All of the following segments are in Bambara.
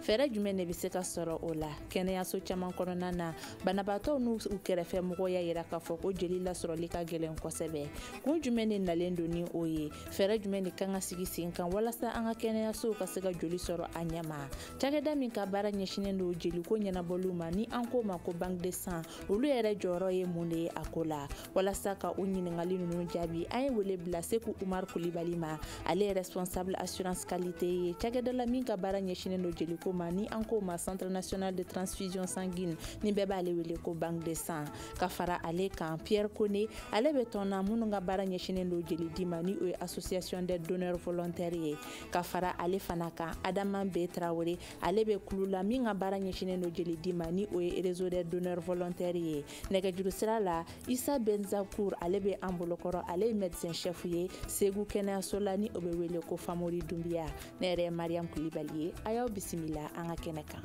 fɛɛrɛ jumɛn de bɛ se ka sɔrɔ o la kɛnɛyaso caman kɔnɔna na banabaatɔw n'u kɛrɛfɛ mɔgɔw y'a yira k'a fɔ ko jeli lasɔrɔli ka gɛlɛn kosɛbɛ kun jumɛn de nalen don ni o ye fɛɛrɛ jumɛn de kan ka sigi sen kan walasa an ka kɛnɛyasow ka se ka joli sɔrɔ a ɲɛma cakɛda min ka baara ɲɛsinnen don jeliko ɲɛnabɔliw ma ni an k'o ma ko banque de sang olu yɛrɛ jɔyɔrɔ ye mun de ye a ko la walasa ka o ɲininkali ninnu jaabi an ye wele bila seku umar kulibali ma ale ye responsable assurance qualité ye cakɛda la min ka baara ɲɛsinnen don jeliko ma ni an k'o ma centre national de transfusion sanguine ni bɛɛ b'ale wele ko banque de sang ka fara ale kan pierre kone ale bɛ tɔn na minnu ka baara ɲɛsinnen don jeli di ma ni o ye association des donneurs volontaires ye ka fara ale fana kan adama be tarawele ale bɛ kulu la min ka baara ɲɛsinnen don jeli di ma ni o ye réseau des donneurs volontaires ye nɛgɛjuru sira la isa benzakur ale bɛ an bolokɔrɔ ale ye médecin chef ye segu kɛnɛyaso la ni o bɛ wele ko famori dunbiya ne yɛrɛ ye mariam kulibali ye a y'aw bisimila an ka kɛnɛ kan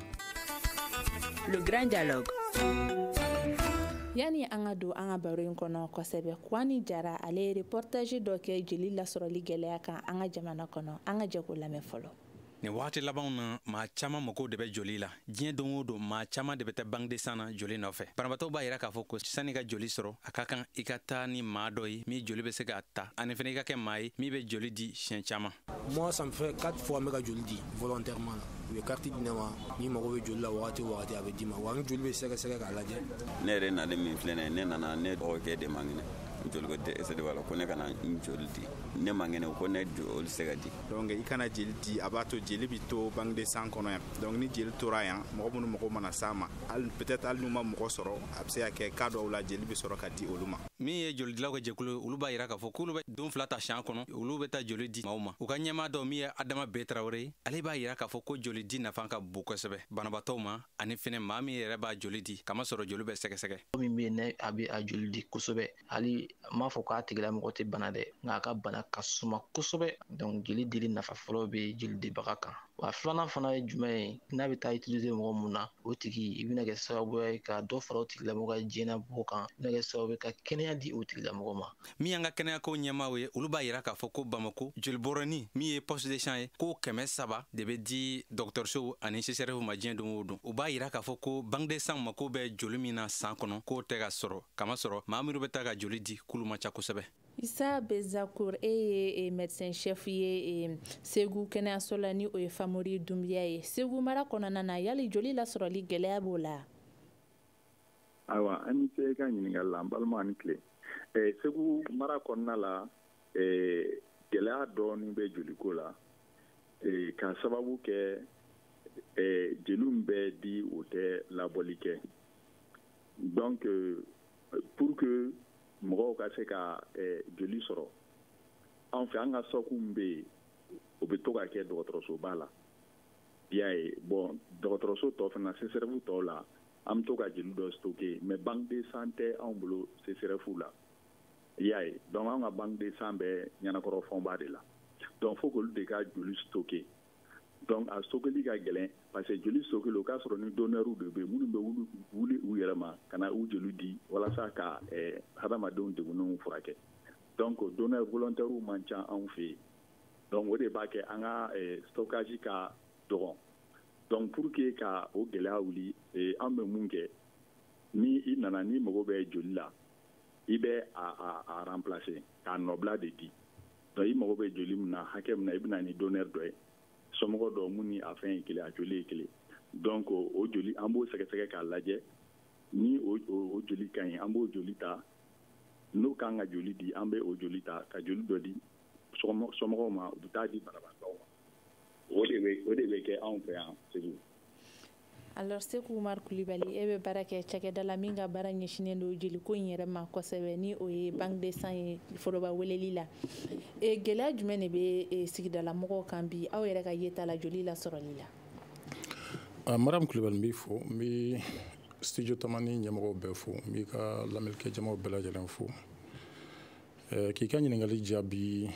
le grand dialogue yanni an ka don an ka baro in kɔnɔ kosɛbɛ kwani jara ale ye reportage dɔ kɛ jeli lasɔrɔli gɛlɛya kan an ka jamana kɔnɔ an ka jɛ k'o lamɛn fɔlɔ nin wagati labanw na maa caaman mago de bɛ joli la diɲɛ don o don maa caaman de bɛ taa banque de sang na joli nɔfɛ banabaatɔw b'a yira k'a fɔ ko san'i ka joli sɔrɔ a ka kan i ka taa ni maa dɔ ye min joli bɛ se k'a ta ani fana i ka kɛ maa ye min bɛ joli di siɲɛ caaman moi ça me fait quatre fois n bɛ ka joli di volontairement la u ye kariti di ne ma n'i mago bɛ joli la wagati o wagati a bɛ d'i ma wa n joli bɛ sɛgɛsɛgɛ k'a lajɛ ne yɛrɛ nalen min filɛ nin ye ne nana ne dɔgɔkɛ de man kɛnɛ joliko dɛsɛ de b'a la ko ne ka na n joli di ne man kɛnɛ ko ne joli se ka di donc i ka na jeli di a b'a to jeli bi to banque de sang kɔnɔ yan donc ni jeli tora yan mɔgɔ minnu mago mana s'a ma peut-être hali n'u ma mɔgɔ sɔrɔ a bɛ se ka kɛ cas dɔw la jeli bɛ sɔrɔ ka di olu ma min ye jolidilaw ka jɛkulu olu b'a yira k'a fɔ k'olu bɛ don fila ta san kɔnɔ olu bɛ taa joli di maaw ma u ka ɲɛmaa dɔ min ye adama be tarawele ye ale b'a yira k'a fɔ ko joli di nafa ka bon kosɛbɛ banabaatɔw ma ani fɛnɛ maa min yɛrɛ b'a joli di kamasɔrɔ joli bɛ sɛgɛsɛgɛ min bɛ yen ni a bɛ a joli di kosɛbɛ hali n m'a fɔ k'a tigilamɔgɔ tɛ bana dɛ nka a ka bana ka suma kosɛbɛ donc jeli dili nafa fɔlɔ bɛ jeli dibaga kan wa filanan fana ye jumɛn ye n'a bɛ taa utiliser mɔgɔ min na o tigi i bɛna kɛ sababuya ye ka dɔ fara o tigilamɔgɔ ka diɲɛnabɔ kan i bɛna kɛ sababu ye ka kɛnɛya di o tigilamɔgɔ ma min y'an ka kɛnɛyako ɲɛmaaw ye olu b'a yira k'a fɔ ko bamako jolibɔrɔni min ye poche de sang ye k'o kɛmɛ saba de bɛ di dɔgɔtɔrɔsow ani csréf ma diɲɛ don o don u b'a yira k'a fɔ ko banque de sang mako bɛ joli min na san kɔnɔ k'o tɛ ka sɔrɔ kamasɔrɔ maa minnu bɛ taa ka joli di k'olu man ca kosɛbɛ isa benzakur e ye e, médecin chef ye e, segu kɛnɛyaso la ni o ye famori dunbiya ye segu mara kɔnɔna na yali joli lasɔrɔli gwɛlɛya b'o la ayiwa an ni ce i ka ɲininkali la n balima ani tile e, segu mara kɔnɔna la gwɛlɛya dɔɔni bɛ joliko la k'a sababu kɛ jeliw bɛ di o tɛ labɔli kɛ donc euh, pour que mɔgɔw ka se ka eh, joli sɔrɔ an fɛ an ka stock min bɛ yen o bɛ to ka kɛ dɔgɔtɔrɔsoba la i y'a ye bon dɔgɔtɔrɔso tɔ fana sesɛrɛfu tɔw la an bɛ to ka jeli dɔ stocker mais banque de sang tɛ anw bolo sesɛrɛfu la i y'a ye donc anw ka banque de sang bɛ ɲanankɔrɔ fɔnba de la donc fo k'olu de ka joli stocker donc a stockeli ka gɛlɛn parce que joli stockeli o k'a sɔrɔ ni donnɛriw de bɛ minnu bɛ wuli u yɛrɛ ma ka na u joli di walasa ka eh, hadamadenw degunenw furakɛ donc donneurs volontaires man ca anw fɛ yen donc o de b'a kɛ an ka eh, stockage ka dɔgɔn donc pour que ka o gɛlɛya wuli eh, an bɛ mun kɛ ni i nana n'i mago bɛ joli la i bɛ a a a remplacer k'a nɔbila de di donc i mago bɛ joli min na hakɛ min na i bɛ na ni donneur dɔ ye somɔgɔ dɔ min ni a fɛn ye kelen a joli ye kelen donc o joli an b'o sɛgɛsɛgɛ k'a lajɛ ni o joli ka ɲi an b'o joli ta n'o kan ka joli di an bɛ o joli ta ka joli dɔ di somɔgɔw ma u bɛ t'a di banabaatɔw ma o de bɛ o de bɛ kɛ anw fɛ yan segu alors seku umar kulibali e bɛ baara kɛ cakɛda la min ka baara ɲɛsinnen don jeliko in yɛrɛ ma kosɛbɛ ni o ye banque de sang ye foroba weleli la e, gɛlɛya jumɛn de bɛ e, sigidala mɔgɔw kan bi aw yɛrɛ ka yeta la joli lasɔrɔli la ah, madame kulibali n b'i fo n bɛ studio tamani ɲɛmɔgɔw bɛɛ fo n b'i ka lamɛnnikɛ jamaw bɛɛ lajɛlen fo eh, k'i ka ɲininkali jaabi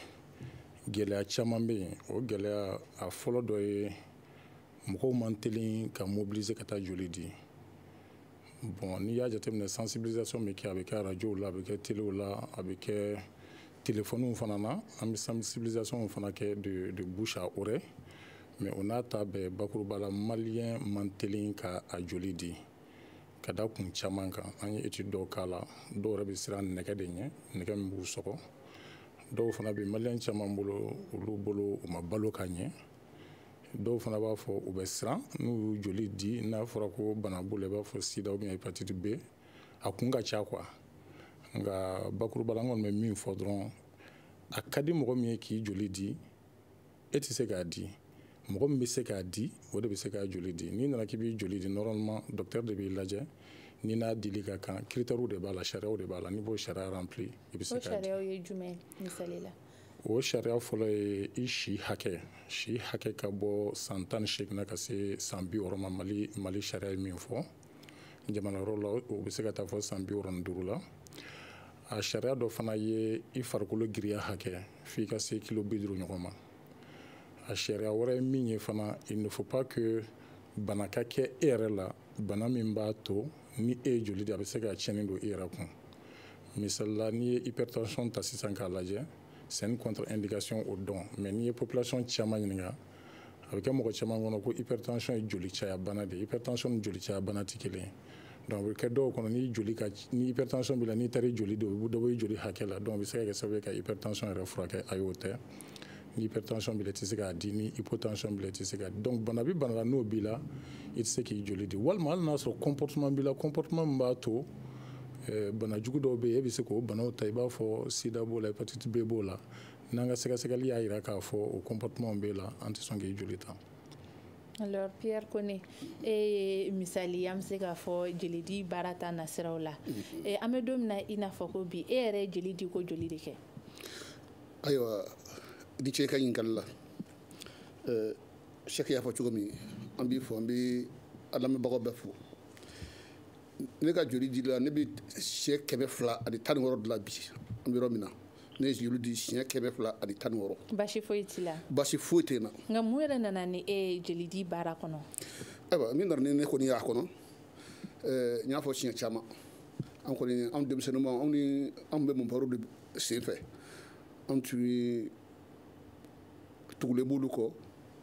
gɛlɛya caman bɛ yen o gɛlɛya a fɔlɔ dɔ ye mɔgɔw man teli ka mobiliser ka taa joli di bon n'i y'a jateminɛ sensibilisation bɛ kɛ a bɛ kɛ arajow la a bɛ kɛ telew la a bɛ kɛ telefɔniw fana na an bɛ sensibilisation fana kɛ de de bouche à oreille mais o n'a ta bɛɛ bakuruba la maliyɛn man teli ka a joli di ka da kun caman kan an ye étude dɔw k'a la dɔw yɛrɛ bɛ siran nɛgɛ de ɲɛ nɛgɛ min b'u sɔgɔ dɔw fana bɛ maliyɛn caman bolo olu bolo u ma balo ka ɲɛ dɔw fana b'a fɔ u bɛ siran n'u y'u joli di n'a fɔra ko bana b'u la i b'a fɔ sida ou bien hépatite b a kun ka ca quoi nka bakuruba la n kɔni bɛ min fɔ dɔrɔn a ka di mɔgɔ min ye k'i joli di e tɛ se k'a di mɔgɔ min bɛ se k'a di o de bɛ se k'a joli di n'i nana k'i b'i joli di normalement docteur de b'i lajɛ ni n'a dili ka kan critères de b'a la sariyaw de b'a la n'i b'o sariya rempli i bɛ se k'a di. o sariyaw ye jumɛn misali la. o sariya fɔlɔ ye i si hakɛ si hakɛ ka bɔ san tan ni seegin na ka se san bi wɔɔrɔ ma mali mali sariya ye min fɔ jamana wɛrɛw la o bɛ se ka taa fo san bi wɔɔrɔ ni duuru la a sariya dɔ fana ye i farikolo giriya hakɛ f'i ka se kilo bi duuru ɲɔgɔn ma a sariya wɛrɛ ye min ye fana il ne faut pas que bana ka kɛ e yɛrɛ la bana min b'a to ni e ye joli di a bɛ se ka tiɲɛni don i yɛrɛ kun misali la n'i ye hypertension ta sisan k'a lajɛ c'est une contre indication au don mais n'i ye population caman ɲininka a bɛ kɛ mɔgɔ caman kɔnɔ ko hypertension ye joli caya bana de ye hypertension ni joli caya bana tɛ kelen ye donc a bɛ kɛ dɔw kɔnɔ ni joli ka ni hypertension b'i la n'i taara i joli di o bɛ dɔ bɔ i joli hakɛ la donc a bɛ se ka kɛ sababu ye ka hypertension yɛrɛ furakɛ ayi o tɛ ni hypertension b'i la i tɛ se k'a di ni hypotension b'i la i tɛ se k'a di donc bana bɛ bana la n'o b'i la i tɛ se k'i joli di walima hali n'a sɔrɔ comportement b'i la comportement min b'a to eh, bana jugu dɔw bɛ yen e bɛ se k'o banaw ta i b'a fɔ sida b'o la hépatite b b'o la n'an ka sɛgɛsɛgɛli y'a jira k'a fɔ o comportement b'e la an tɛ sɔn k'i joli ta alors pierre kone e ye misali an bɛ se k'a fɔ jelidi baara ta nasiraw la mm-hmm. eh, an bɛ don min na i n'a fɔ ko bi e yɛrɛ ye jeli di ko joli de kɛ ayiwa i ni ce i ka ɲininkali la eh, sɛki y'a fɔ cogo min an b'i fo an bɛ an lamɛnbagaw bɛɛ fo ne ka joli dili la ne bɛ siɲɛ kɛmɛ fila ani tan ni wɔɔrɔ de la bi an bɛ yɔrɔ min na ne ye joli di siɲɛ kɛmɛ fila ani tan wɔɔrɔ baasi foyi t'i la baasi foyi tɛ n na nka mun yɛrɛ nana ni e ye jeli di baara kɔnɔ ayiwa min nana ni ne kɔni y'a kɔnɔ n y'a fɔ siɲɛ caman an kɔni anw denmisɛnninma anw anw tun bɛ mɔnpɛriw de sen fɛ anw tun ye tugulen b'olu kɔ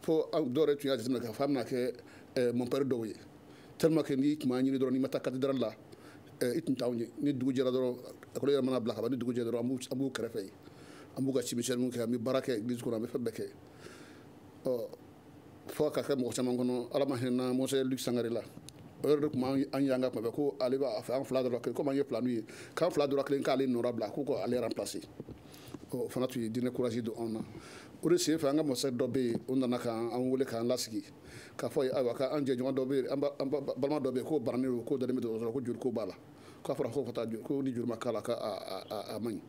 fo dɔw yɛrɛ tun y'a jateminɛ k'a fɔ an bɛna kɛ mɔnpɛri dɔw ye tellement que n'i tun b'an ɲini dɔrɔn n'i ma taa cathédrale la i tun t'anw ye ni dugu jɛra dɔrɔn ekɔli yɛrɛ mana bila ka ban ni dugu jɛra dɔrɔn an b'u kɛrɛfɛ yen an b'u ka cimisɛnninw kɛ an bɛ baara kɛ église kɔnɔ an bɛ fɛn bɛɛ kɛ ɔ fo ka kɛ mɔgɔ caman kɔnɔ ala ma hinɛ monseigneur luc sangare la o yɛrɛ de tun b'an y'an ka tuma bɛɛ ko ale b'a fɛ an fila dɔ rɔ kelen komi an ye filaniw ye k'an fila dɔ rɔ kelen k'ale nɔra bila ko ko ale remplacer o fana tun ye diinɛ courage don anw na o de senfɛ an ka mɔsɛ dɔ bɛ yen o nana k'an wele k'an lasigi k'a fɔ ayiwa k'an jɛɲɔgɔn dɔ bɛ yen an balima dɔ bɛ yen k'o bananen don k'o dalen bɛ dɔgɔtɔrɔso la ko joli ko b'a la k'a fɔra ko ka taa joli ko ni joli ma k'a la k'a man ɲi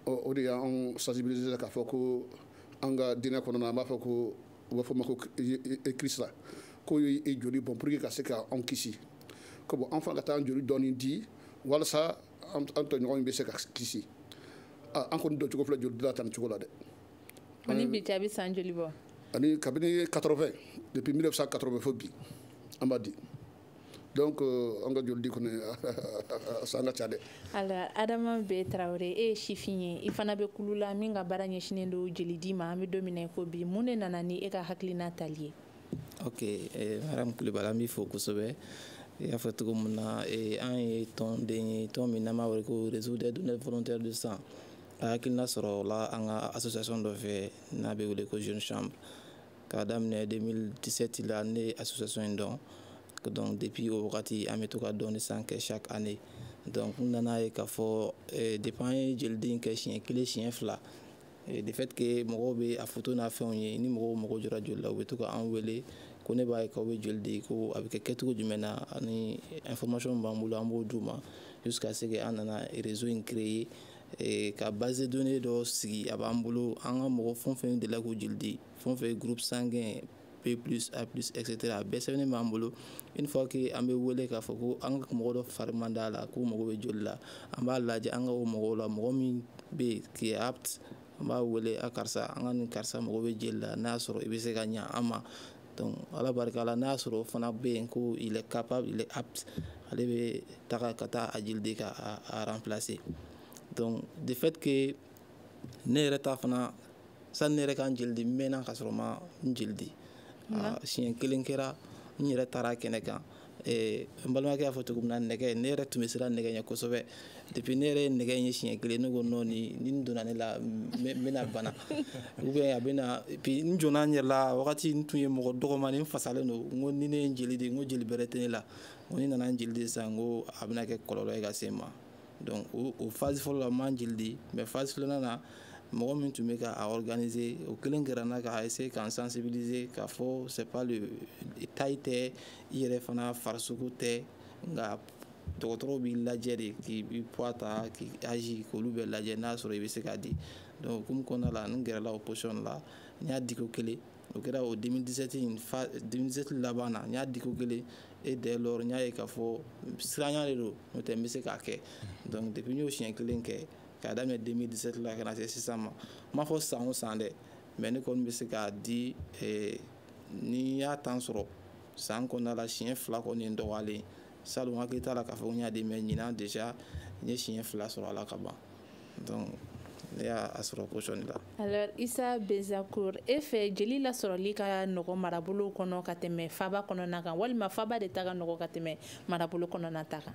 o de y'an sensibiliser k'a fɔ ko an ka diinɛ kɔnɔna an b'a fɔ ko u b'a fɔ ma ko kirisita k'o ye i joli bɔn pour que ka se ka anw kisi ko bon an fana ka taa an joli dɔɔni di walasa an tɔɲɔgɔn bɛ se ka kisi an kɔni don cogo filɛ joli di la tan nin cogo la dɛ A ni bi cɛ a bɛ san joli bɔ? Ani kabini 80 depuis 1980 fo bi an b'a di. donc euh, an ka joli di kɔni san ka ca dɛ alors adama B tarawele e ye sifin ye i fana bɛ kulu la min ka baara ɲɛsinnen don jeli di ma an bɛ don min na i ko bi mun de nana ni e ka hakilina tali ye ok eh, madame kulibali an b'i fo kosɛbɛ i y'a fɔ cogo min na eh, an ye tɔnden ye tɔn min n'an b'a wele ko réseau des donneurs volontaires de sang a hakilina sɔrɔla an ka association dɔ fɛ n'a bɛ wele ko jeune chambre k'a daminɛ 2017 la ne ye association in dɔn donc depuis o wagati an bɛ to ka don de sang kɛ chaque année donc n nana ye k'a fɔ eh, depuis an ye jeli di kɛ siɲɛ kelen siɲɛ fila eh, de fait que mɔgɔw bɛ a foto n'a fɛnw ye ni mɔgɔw mago jɔra joli la u bɛ to ka an wele ko ne b'a ye k'aw bɛ joli di ko a bɛ kɛ kɛcogo jumɛn na a ni information b'an bolo an b'o d'u ma jusqu'à ce que an nana réseau in créer e, ka base de données dɔ sigi a b'an bolo an ka mɔgɔ fɛn o fɛn delila k'u joli di fɛn o fɛn groupe sanguin B plus A plus etc a bɛɛ sɛbɛnnen b'an bolo une fois que an bɛ wele k'a fɔ ko an ka mɔgɔ dɔ fari man d'a la k'u mago bɛ joli la an b'a lajɛ an ka o mɔgɔw la mɔgɔ min bɛ yen qui est apte an b'a wele a karisa an ka nin karisa mago bɛ jeli la n'a y'a sɔrɔ i bɛ se ka ɲa an ma donc ala barika la n'a y'a sɔrɔ o fana bɛ yen ko il est capable il est apte ale bɛ taga ka taa a jeli di ka a remplacer donc de fait que ne yɛrɛ ta fana sani ne yɛrɛ ka n jeli di n mɛnna k'a sɔrɔ n ma n jeli di siɲɛ kelen kɛra n yɛrɛ taara kɛnɛ kan Eh, n balimakɛ y'a fɔ cogo min na nɛgɛ ne yɛrɛ tun bɛ siran nɛgɛ ɲɛ kosɛbɛ depuis ne yɛrɛ ye nɛgɛ in ye siɲɛ kelen ne ko non ni nin donna ne la n bɛna bana ou bien a bɛna et puis n jɔnna n yɛrɛ la wagati n tun ye mɔgɔ dɔgɔmani n fasalen don n ko ni ne ye n jeli di n ko jeli bɛrɛ tɛ ne la n ko ni n nana n jeli di sisan n ko a bɛna kɛ kɔlɔlɔ ye ka se n ma donc o o phase fɔlɔ la n ma n jeli di mais phase filanan na mɔgɔ min tun bɛ ka a organiser o kelen kɛra n na ka essayer ka n sensibiliser k'a fɔ c'est pas le taille tɛ i yɛrɛ fana farisogo tɛ nka dɔgɔtɔrɔw b'i lajɛ de k'i poids ta k'i âge k'olu bɛɛ lajɛ n'a sɔrɔ i bɛ se k'a di donc o hukumu kɔnɔna la n gɛrɛla o position la n y'a di ko kelen o kɛra o 2017 enfin 2017 laban na n y'a di ko kelen et dès lors n y'a ye k'a fɔ siranya de don n'o tɛ n bɛ se k'a kɛ donc depuis n y'o siɲɛ kelen kɛ k'a daminɛ 2017 la ka na se sisan ma n m'a fɔ san o san dɛ mais ne kɔni bɛ se k'a di eh, ni n y'a temps sɔrɔ san kɔnɔna la siɲɛ fila kɔni ye n dɔgɔyalen salon n hakili t'a la k'a fɔ ko n y'a di mais ɲinan déjà n ye siɲɛ fila sɔrɔ a la ka ban donc ne y'a sɔrɔ position la alors isa bezakour e fɛ jeli lasɔrɔli ka nɔgɔ marabolo kɔnɔ ka tɛmɛ faba kɔnɔna kan walima faba de ta ka nɔgɔ ka tɛmɛ marabolo kɔnɔna ta kan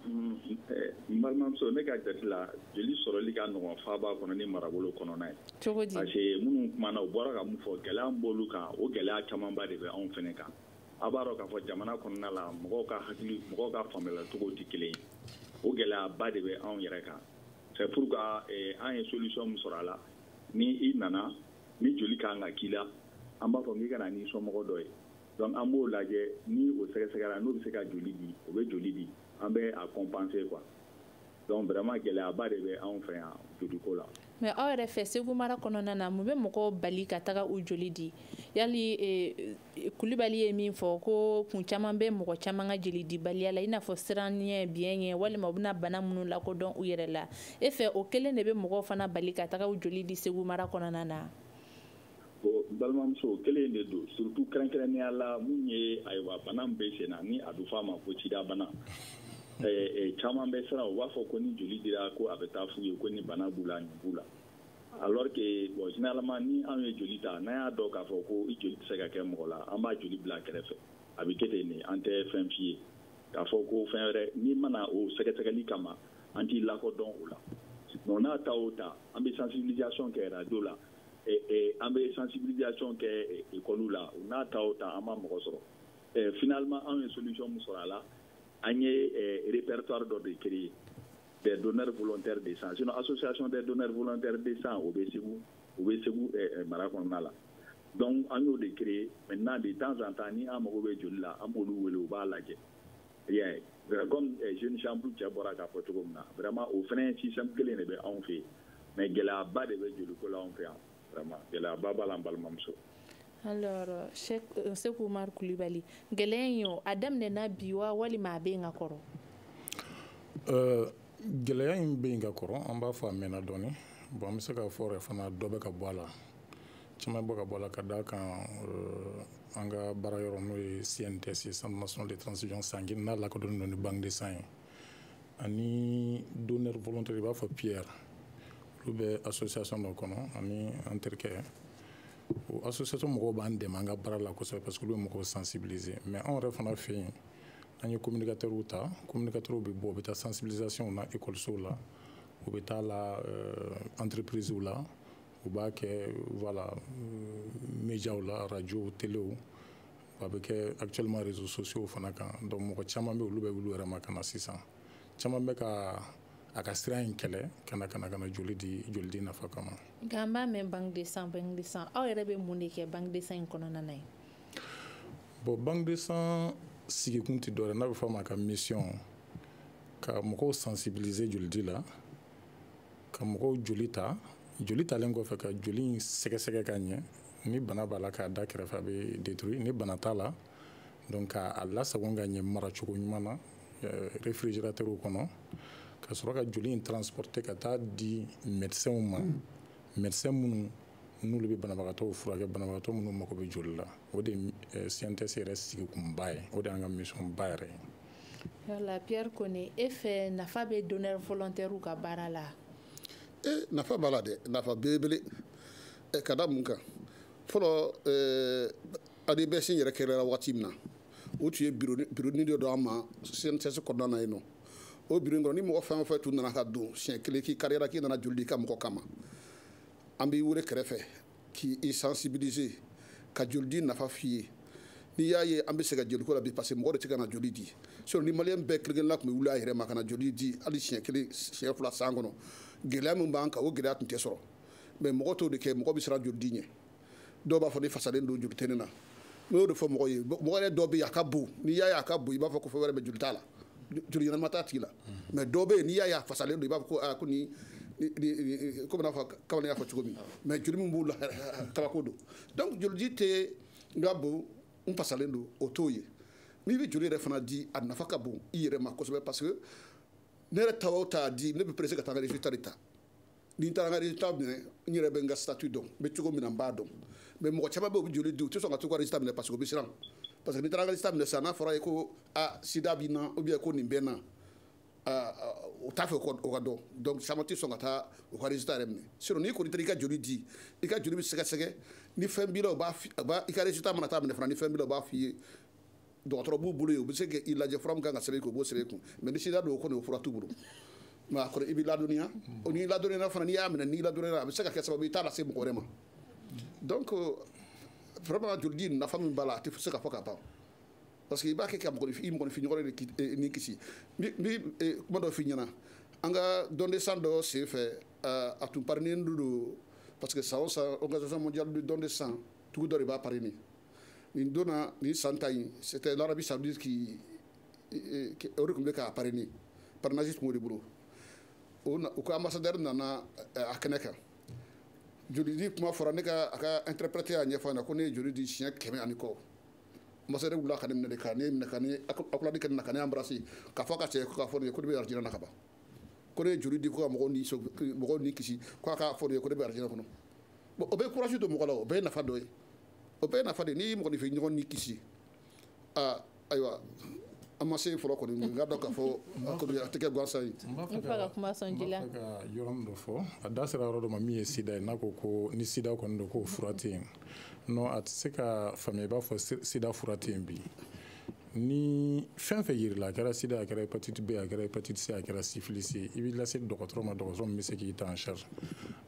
mm, eh, n balimamuso ne ka jate la jeli sɔrɔli ka nɔgɔ faba kɔnɔ ni marabolo kɔnɔna ye cogo di parce que minnu kumana u bɔra ka mun fɔ gɛlɛya b'olu kan o gɛlɛya camanba de bɛ anw fɛnɛ kan a b'a dɔn k'a fɔ jamana kɔnɔna la mɔgɔw ka hakili mɔgɔw ka faamuyalacogo tɛ kelen ye o gɛlɛyaba de bɛ anw yɛrɛ kan c'est pourquoi eh, an ye solution min sɔrɔ a la ni i nana ni joli ka kan ka k'i la an b'a fɔ k'i ka na n'i somɔgɔ dɔ ye donc an b'o lajɛ ni o sɛgɛsɛgɛra n'o bɛ se ka joli di o bɛ joli di an bɛ a compenser quoi donc vraiment gɛlɛyaba de bɛ anw fɛ yan joliko la mais aw yɛrɛ fɛ segu mara kɔnɔna na mun bɛ mɔgɔw bali ka taga u joli di yali eh, kulibali ye min fɔ ko kun caman bɛ mɔgɔ caman ka jeli dibaliya la i n'a fɔ siranɲɛ biɲɛ ɲɛ walima u bɛna bana minnu lakodɔn u yɛrɛ la e fɛ o kelen de bɛ mɔgɔw fana bali ka taga u joli di segu mara kɔnɔna na bon balimamuso kelen de don surtout kɛrɛnkɛrɛnnenya la mun ye ayiwa bana min bɛ sen na ni a bɛ fɔ a ma ko sidabana caman bɛ siran u b'a fɔ ko ni joli dira ko a bɛ taa f'u ye ko ni bana b'u la nin b'u la alors que bon généralement ni anw ye joli ta n'an y'a dɔn k'a fɔ ko i joli tɛ se ka kɛ mɔgɔ la an b'a joli bila kɛrɛfɛ a bɛ kɛ ten de an tɛ fɛn f'i ye k'a fɔ ko fɛn wɛrɛ n'i ma na o sɛgɛsɛgɛli kama an t'i lakodɔn o la donc n'a ta o ta an bɛ sensibilisation kɛ radio la an bɛ sensibilisation kɛ école la o n'a ta o ta an ma mɔgɔ sɔrɔ finalement anw ye solution min sɔrɔ a la an ye répertoire dɔ de créer des donneurs volontaires de sang sinon association des donneurs volontaires de sang o bɛ Segu u bɛ Segu mara kɔnɔna la donc an y'o de créer maintenant de temps en temps ni an mago bɛ joli la an b'olu wele u b'a lajɛ. Bien. Euh, comme euh, jeune chambre cɛ bɔra k'a fɔ cogo min na vraiment o fana système kelen de bɛ anw fɛ yen mais gɛlɛyaba de bɛ joliko la anw fɛ yan vraiment gɛlɛyaba b'a la an balimamuso alors euh, Cheikh Seku Umaru Kulibali gɛlɛya in o a daminɛna bi wa walima a bɛ yen ka kɔrɔ gɛlɛya in bɛ yen ka kɔrɔ an b'a fɔ a mɛnna dɔɔnin bon an bɛ se k'a fɔ yɛrɛ fana dɔ bɛ ka bɔ a la caman bɛ ka bɔ a la ka d'a kan euh, an ka baara yɔrɔ n'o ye cnts ye centre national de transfusion sanguine n'a lakodɔnnen don ni banque de sang ye ani donneur volontaire i b'a fɔ pierre olu bɛ association dɔ kɔnɔ ani an terikɛ o association mɔgɔw b'an dɛmɛ an ka baara la kosɛbɛ parce que olu bɛ mɔgɔw sensibiliser mais anw yɛrɛ fana fɛ yen an ye communicateurs ta communicateurs bɛ bɔ u bɛ taa sensibilisation na écoles la u bɛ taa la euh, entreprises la u b'a kɛ voilà médiaw la radio telew a bɛ kɛ actuellement réseaux sociaux fana kan donc mɔgɔ caman bɛ olu bɛ wuli u yɛrɛ ma ka na sisan caman bɛ ka a ka siran in kɛlɛ ka na ka na ka na joli di joli di nafa kama nka an b'a mɛn banque de sang banque de sang aw yɛrɛ bɛ mun de kɛ banque de sang in kɔnɔna na yen bon banque de sang sigikun tɛ dɔwɛrɛ n'a bɛ fɔ a ma a ka mission ka mɔgɔw sensibiliser jolidi la ka mɔgɔw joli ta joli talen kɔfɛ ka joli in sɛgɛsɛgɛ ka ɲɛ ni bana b'a la k'a da kɛrɛfɛ a bɛ détruit ni bana t'a la donc k'a lasagon ka ɲɛ maracogo ɲuman na euh, réfrigérateur kɔnɔ ka sɔrɔ ka joli in transporter ka taa di médecins ma mm. médecins minnu n'olu bɛ banabagatɔw furakɛ banabagatɔ minnu mago bɛ joli la o de ye CNTS euh, yɛrɛ sigikun ba ye o de y'an ka mission ba yɛrɛ ye Yala Pierre Kone e fɛ nafa bɛ donneur volontaire ka baara la e eh, nafa b'a la dɛ nafa belebele eh, ka da mun kan fɔlɔ eh, ADBS yɛrɛ kɛra waati min na o tun ye bironi dɔ d'an ma CNTS kɔnɔna na yen nɔ o bironi kɔnɔ ni mɔgɔ fɛn o fɛn tun nana ka don siɲɛ kelen k'i kariyara k'i nana joli di i ka mɔgɔ kama an b'i wele kɛrɛfɛ k'i i sensibiliser ka jolidi nafa f'i ye n'i y'a ye an bɛ sɛgɛn joliko la bi parce que mɔgɔ de tɛ ka na joli di sinon ni maliyɛn bɛɛ kelen-kelenna tun bɛ wuli a yɛrɛ ma ka na joli di hali siɲɛ kelen siɲɛ fila san kɔnɔ gɛlɛya min b'an kan o gɛlɛya tun tɛ sɔrɔ mais mɔgɔ t'o de kɛ mɔgɔ bɛ siran jolidi ɲɛ dɔw b'a fɔ ne fasalen don joli tɛ ne na n y'o de fɔ mɔgɔ ye mɔgɔ yɛrɛ dɔ bɛ yen a ka bon n'i y'a ye a ka bon i b'a fɔ ko fɛn wɛrɛ bɛ joli t'a la joli ɲɛnama t'a tigi la mais dɔw bɛ yen n'i y'a ye a fasalen don i b'a fɔ ko aa ko nin komi n'a fɔ kamalen y'a fɔ cogo min mais joli min b'u la kabako don donc jolidi tɛ n ka bon n fasalen don o t'o ye n'i bɛ joli yɛrɛ fana di a nafa ka bon i yɛrɛ ma kosɛbɛ parce que ne yɛrɛ ta o ta di ne bɛ pressé ka taa n ka résultat de ta ni n taara n ka résultat minɛ n yɛrɛ bɛ n ka statut dɔn n bɛ cogo min na n b'a dɔn mais mɔgɔ caman bɛ yen u bɛ joli di u tɛ sɔn ka t'u ka résultat minɛ parce que u bɛ siran parce que n'i taara n ka résultat minɛ sisan n'a fɔra i ye ko a sida b'i na ou bien ko nin bɛ n na u t'a fɛ o ka dɔn donc caman tɛ sɔn ka taa u ka résultat yɛrɛ minɛ sinon n'i kɔni taara i ka joli di i ka joli bɛ sɛgɛsɛgɛ ni fɛn b'i la u b'a i ka résultat mana taa minɛ fana ni fɛn b'i la u b'a f'i ye dɔgɔtɔrɔ b'u bolo yen u bɛ se k'i lajɛ fura min kan ka sɛbɛn i kun u b'o sɛbɛn i kun mais ni sida don o kɔni o fura t'u bolo mais a kɔni i b'i ladɔnniya o n'i ladɔnniyara fana n'i y'a minɛ n'i ladɔnniyara a bɛ se ka kɛ sababu ye i t'a lase mɔgɔ wɛrɛ ma donc vraiment jolidi nafa min b'a la a tɛ se ka fɔ ka ban parce que i b'a kɛ ka mɔgɔninfin i mɔgɔninfinɲɔgɔn de eh, ni kisi n bɛ eh, kuma dɔ f'i ɲɛna an ka don de sang dɔ sen fɛ eh, a tun parrainé don parce que san o san organisation mondiale du don de sang tugu dɔ de b'a parrainer nin donna nin san ta in c'était l'Arabie saoudite qui o de tun bɛ k'a parrainer parrainage tun b'o de bolo u ka ambassadeur nana a kɛnɛ kan joli di kuma fɔra ne ka a ka interprète y'a ɲɛfɔ a ɲɛ na ko ne ye joli di siɲɛ kɛmɛ ani kɔ ambassadeur wulila ka ne minɛ de ka ne minɛ ka ne accolade kɛ ne na ka ne embrasser k'a fɔ ka cɛ ko k'a fɔ ne ye ko ne bɛ alijinɛ na ka ban ko ne ye joli di ko ka mɔgɔw ni mɔgɔw ni kisi ko a k'a fɔ ne ye ko ne bɛ alijinɛ kɔnɔ bon o bɛ courage don mɔgɔ la o bɛɛ ye nafa dɔ ye o bɛɛ nafa de n'i mɔgɔninfin ɲɔgɔn ni kisi aa ayiwa an ma se fɔlɔ kɔni n k'a dɔn k'a fɔ a tɛ kɛ gansan ye n b'a fɛ ka yɔrɔnin dɔ fɔ a da sera yɔrɔ dɔ ma min ye sida ye n'a ko ko ni sida kɔni don k'o fura tɛ yen non a tɛ se ka faamuya i b'a fɔ sida fura tɛ yen bi ni fɛn fɛn yirala a kɛra sida a kɛra hépatite b a kɛra hépatite c a kɛra syphilis ye i b'i lase dɔgɔtɔrɔ ma dɔgɔtɔrɔ min bɛ se k'i ta en charge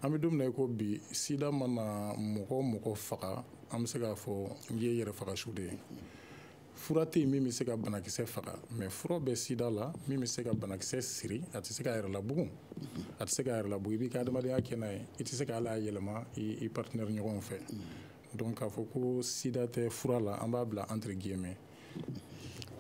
an bɛ don min na i ko bi sida mana mɔgɔ o mɔgɔ faga an bɛ se k'a fɔ nin ye yɛrɛfagasu de ye fura tɛ yen min bɛ se ka banakisɛ faga mais fura bɛ sida la min bɛ se ka banakisɛ siri a tɛ se k'a yɛrɛ labugun a tɛ se k'a yɛrɛ labugun i b'i ka adamadenya kɛ n'a ye i tɛ se ka hali a yɛlɛma i partenaire ɲɔgɔn fɛ donc k'a fɔ ko sida tɛ fura la an b'a bila entre guillemets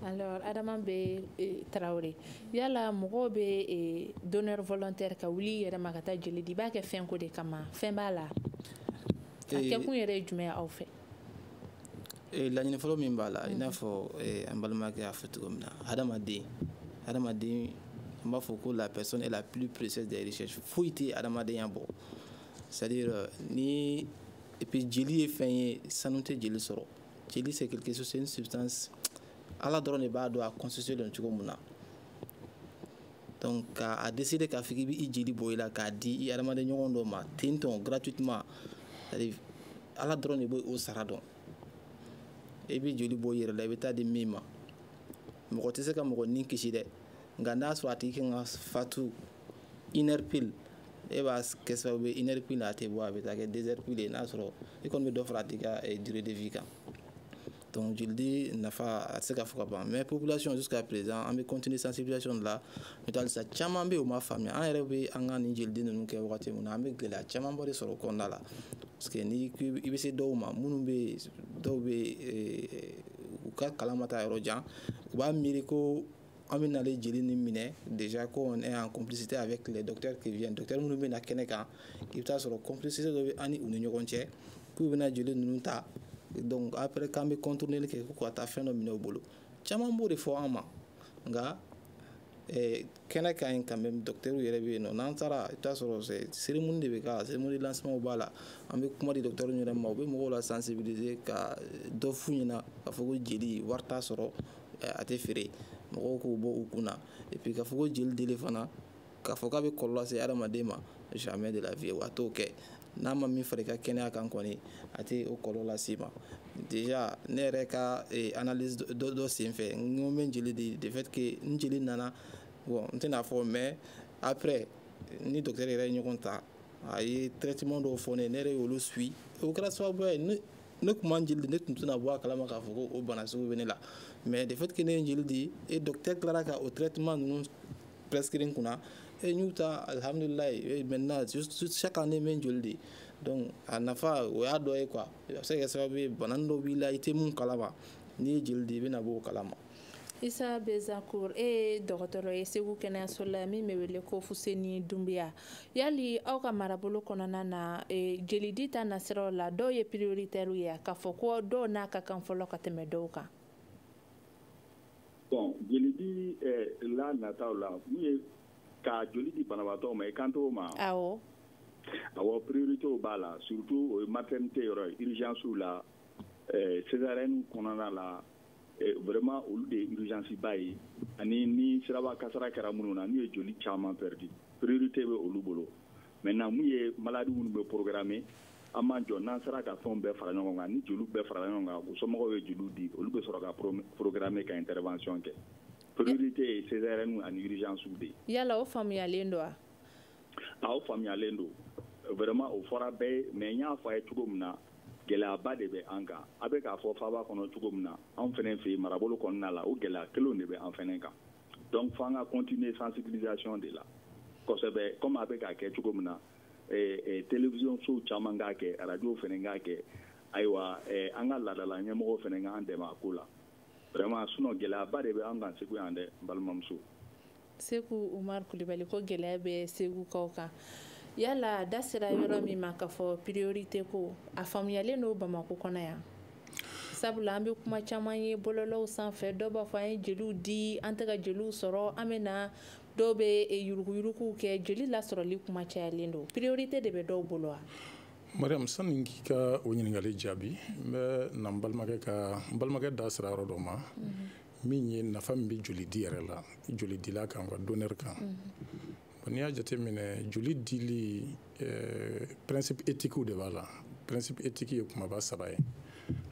alors adama b eh, tarawele yala mɔgɔw bɛ eh, donneur volontaire ka wuli i yɛrɛ ma ka taa jeli di i b'a kɛ fɛn ko de kama fɛn b'a la a eh, kɛkun yɛrɛ ye jumɛn ye aw fɛ laɲini fɔlɔ min b'a la i n'a fɔ an balimakɛ y'a fɔ cogo min na hadamaden hadamaden an b'a fɔ ko la personne est la plus précieuse des richesses foyi tɛ hadamadenya bɔ c'est à dire ni et puis jeli ye fɛn ye sanu tɛ jeli sɔrɔ jeli c'est quelque chose c'est une substance ala dɔrɔn de b'a dɔn a constitué don cogo min na donc k'a décider k'a fɔ k'i b'i jeli bɔ i la k'a di i hadamaden ɲɔgɔn dɔ ma ten tɔn gratuitement ala dɔrɔn de b'o sara dɔn i bɛ joli bɔ i yɛrɛ la i bɛ taa di min ma mɔgɔ tɛ se ka mɔgɔ ni kisi dɛ nka n'a sɔrɔ a tigi kan ka fatu une heure pile e b'a kɛ sababu ye une heure pile a tɛ bɔ a bɛ taa kɛ deux heures pile ye n'a sɔrɔ i kɔni bɛ dɔ fara a tigi ka durée de vie kan donc jolidi nafa a tɛ se ka fɔ ka ban mais population jusqu'à présent an bɛ continuer sensibilisation de la n'o tɛ halisa caman bɛ yen u ma faamuya an yɛrɛ bɛ an ka nin jolidi ninnu kɛ wagati min na an bɛ gɛlɛya camanba de sɔrɔ o kɔnɔna la parce que ni i bɛ se dɔw ma minnu bɛ yen dɔw bɛ u ka kalan ma taa yɔrɔ jan u b'a miiri ko an bɛ nalen jeli nin minɛ déjà ko on est en complicité avec les docteurs qui viennent docteurs minnu bɛ na kɛnɛ kan i bɛ taa sɔrɔ complicité dɔ bɛ an ni u ni ɲɔgɔn cɛ k'u bɛna jeli ninnu ta donc après k'an bɛ contourner kɛ ko ka taa fɛn dɔ minɛ u bolo caman b'o de fɔ an ma nka eh, kɛnɛ ka ɲi quand même docteurs yɛrɛ bɛ yen nɔ n'an taara i bɛ taa sɔrɔ cérémonie de bɛ k'a la cérémonie lancement b'a la an bɛ kuma di docteurs yɛrɛ ma u bɛ mɔgɔw la sensibiliser ka dɔ f'u ɲɛna k'a fɔ ko jeli wari t'a sɔrɔ a tɛ feere mɔgɔw k'o bɔ u kunna et puis k'a fɔ ko jeli dili fana k'a fɔ k'a bɛ kɔlɔlɔ lase adamaden ma jamais de la vie wa a t'o kɛ n'a ma min fara i ka kɛnɛya kan kɔni a tɛ o kɔlɔlɔ las'i ma déjà ne yɛrɛ ka eh, analyse dɔ dɔ senfɛ n ko n bɛ jeli di de fait que n jeli nana bon n tɛna fɔ mais après ni docteur yɛrɛ ye ɲɔgɔn ta a ye traitement dɔw fɔ ne ye ne yɛrɛ y'olu suivre o kɛra sababuya ye ne ne tun ma n jeli di ne tun tɛna bɔ a kalama k'a fɔ ko o bana sugu bɛ ne la mais de fait que ne ye jeli di et docteur tilara ka o traitement ninnu prescrire n kunna et n y'u ta alhamdulilayi maintenant chaque année n bɛ n jeli di donc a nafa o y'a dɔ ye quoi a bɛ se ka kɛ sababu ye bana dɔ b'i la i tɛ mun kalama n'i ye jeli di i bɛna bɔ o kalama isa bezakur e ye dɔgɔtɔrɔ ye segu kɛnɛyaso la min bɛ wele ko fuseni dunbiya yali aw ka marabolo kɔnɔna na e, jelidi ta nasiraw la dɔw ye prioritaire ye k'a fɔ ko dɔw n'a ka kan fɔlɔ ka tɛmɛ dɔw kan bon jelidi eh, la nataw la mun ye ka joli di banabaatɔ ma i kan t'o ma awɔ awɔ prioritéw b'a la surtout o ye maternité yɔrɔ ye urgence la eh, césarienne kɔnɔna la Eh, vraiment olu de ye urgence ba ye ani ni siraba kasara kɛra minnu na n'u ye joli caman perdu priorité bɛ olu bolo maintenant mun ye malade minnu bɛ programmer an b'an jɔ n'an sera ka fɛnw bɛɛ fara ɲɔgɔn kan ni joliw bɛɛ farala ɲɔgɔn kan u somɔgɔw ye joliw di olu bɛ sɔrɔ ka programmer ka intervention kɛ priorité ye césarienne ani urgence de ye. yala o faamuyalen don wa. a o faamuyalen don vraiment o fɔra bɛɛ ye mais n y'a fɔ a ye cogo min na. gɛlɛyaba de bɛ an kan a bɛ k'a fɔ faaba kɔnɔ cogo min na an fɛnɛ fɛ yen marabolo kɔnɔna la o gɛlɛya kelenw de bɛ an fɛnɛ kan donc fo an ka continuer sensibilisation de la kosɛbɛ comme a bɛ k'a kɛ cogo min na eh, eh, télévision sow caman k'a kɛ radio fɛnɛ k'a kɛ ayiwa eh, an ka laadala ɲɛmɔgɔw fɛnɛ k'an dɛmɛ a ko la vraiment sinon gɛlɛyaba de bɛ an kan segu yan dɛ n balimamuso seku umar kulibali ko gɛlɛya bɛ segukaw kan yala da sera yɔrɔ min ma k'a fɔ priorité ko a faamuyalen don bamako kɔnɔ yan sabula an bɛ kuma caman ye bɔlɔlɔw sanfɛ dɔw b'a fɔ an ye jeliw di an tɛ ka jeliw sɔrɔ an bɛ na dɔw bɛ eh, yuruguyuruguw kɛ jeli lasɔrɔli kuma cayalen don priorité de bɛ dɔw bolo wa mariam sani k'i ka o ɲininkali jaabi n bɛ na n balimakɛ ka n balimakɛ da sera yɔrɔ dɔ ma min ye nafa min bɛ joli di yɛrɛ la joli dila kan ka donneur kan n'i y'a jateminɛ joli dili eh, principe éthique de b'a la principe éthique ye kumaba saba ye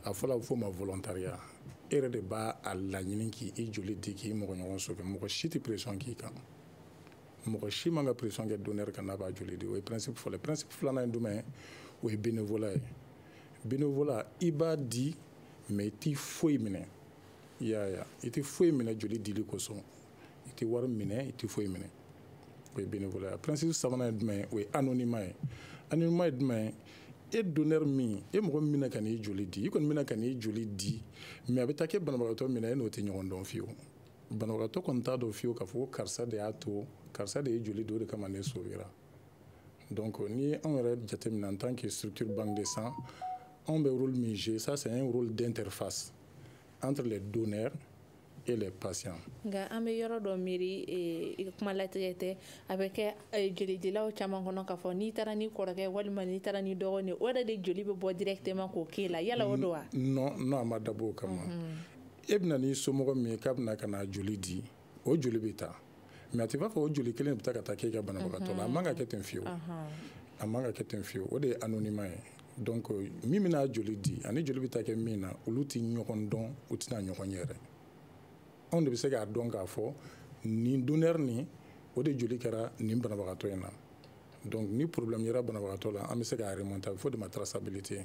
a fɔlɔ a bɛ fɔ ma volontariat e yɛrɛ de b'a a laɲini k'i joli di k'i mɔgɔɲɔgɔn sauver mɔgɔ si tɛ pression k'i kan mɔgɔ si man ka pression kɛ donneur kan n'a b'a joli di o ye principe fɔlɔ ye principe filanan ye jumɛn ye o ye bénévolat ye bénévolat i b'a di mais i tɛ foyi minɛ i y'a ye i tɛ foyi minɛ joli dili kosɔn i tɛ wari minɛ i tɛ foyi minɛ o ye bénévolat principe sabanan ye jumɛn ye o ye anonymat ye anonymat ye jumɛn ye e donneur min e mɔgɔ min bɛna ka n'i joli di i kɔni bɛna ka n'i joli di mais a bɛ taa kɛ banabagatɔ min na e n'o tɛ ɲɔgɔn dɔn fiyewu banabagatɔ kɔni t'a dɔn fiyewu k'a fɔ ko karisa de y'a to karisa de ye joli di o de kama ne sauvera donc n'i y'anw yɛrɛ jateminɛ en tant que structure banque de sang anw bɛ rôle min jouer ça c'est un rôle d'interface entre les donneurs et les patients. nka an bɛ yɔrɔ dɔ miiri i ka kuma latigɛ tɛ a bɛ kɛ jolidilaw caman kɔnɔ k'a fɔ n'i taara n'i kɔrɔkɛ walima n'i taara n'i dɔgɔnin o yɛrɛ de joli bɛ bɔ directement k'o k'e la yala o don wa. non non a ma dabɔ o kama e bɛna n'i somɔgɔ min ye k'a bɛna ka na joli di. o joli bɛ taa mais a tɛ b'a fɔ o joli kelen bɛ taa ka taa k'e ka banabagatɔ la a man ka kɛ ten fiyewu a man ka kɛ ten fiyewu o de ye anonymat ye donc min bɛna joli di ani joli bɛ taa kɛ min na olu tɛ ɲɔgɔn dɔn u tɛna ɲɔgɔn ye yɛrɛ anw de bɛ se k'a dɔn k'a fɔ nin donneur nin o de joli kɛra nin banabagatɔ in na donc ni problème yera banabagatɔ la an bɛ se k'a remonter a bɛ fɔ o de ma traçabilité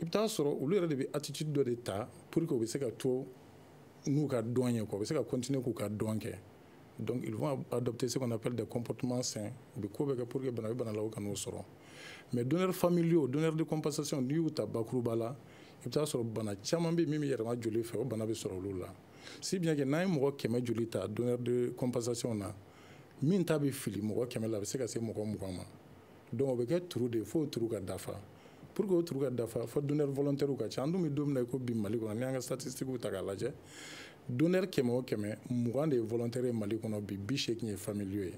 i bɛ taa sɔrɔ olu yɛrɛ de bɛ attitude dɔ de ta pour que u bɛ se ka to n'u ka don ye quoi u bɛ se ka continuer k'u ka don kɛ donc ils vont adopter ce qu'on appelle des comportements sains u bɛ ko bɛɛ kɛ pour que bana bɛ bana la u kan'o sɔrɔ mais donneurs familiaux donneurs de compensation n'i y'u ta bakuruba la i bɛ taa sɔrɔ bana caman bɛ yen min bɛ yɛlɛma joli fɛ o bana bɛ sɔrɔ olu la si bien que n'an ye mɔgɔ kɛmɛ joli ta donneur de compensation na min ta bɛ fili mɔgɔ kɛmɛ la a bɛ se ka se mɔgɔ mugan ma donc o bɛ kɛ trou de ye fo trou ka dafa pour que o trou ka dafa fo donneur volontaire ka ca an dun bɛ don min na i ko bi mali kɔnɔ n'i y'an ka statistiques ta k'a lajɛ donneur kɛmɛ o kɛmɛ mugan de ye volontaire ye mali kɔnɔ bi bi seegin ye familiaux ye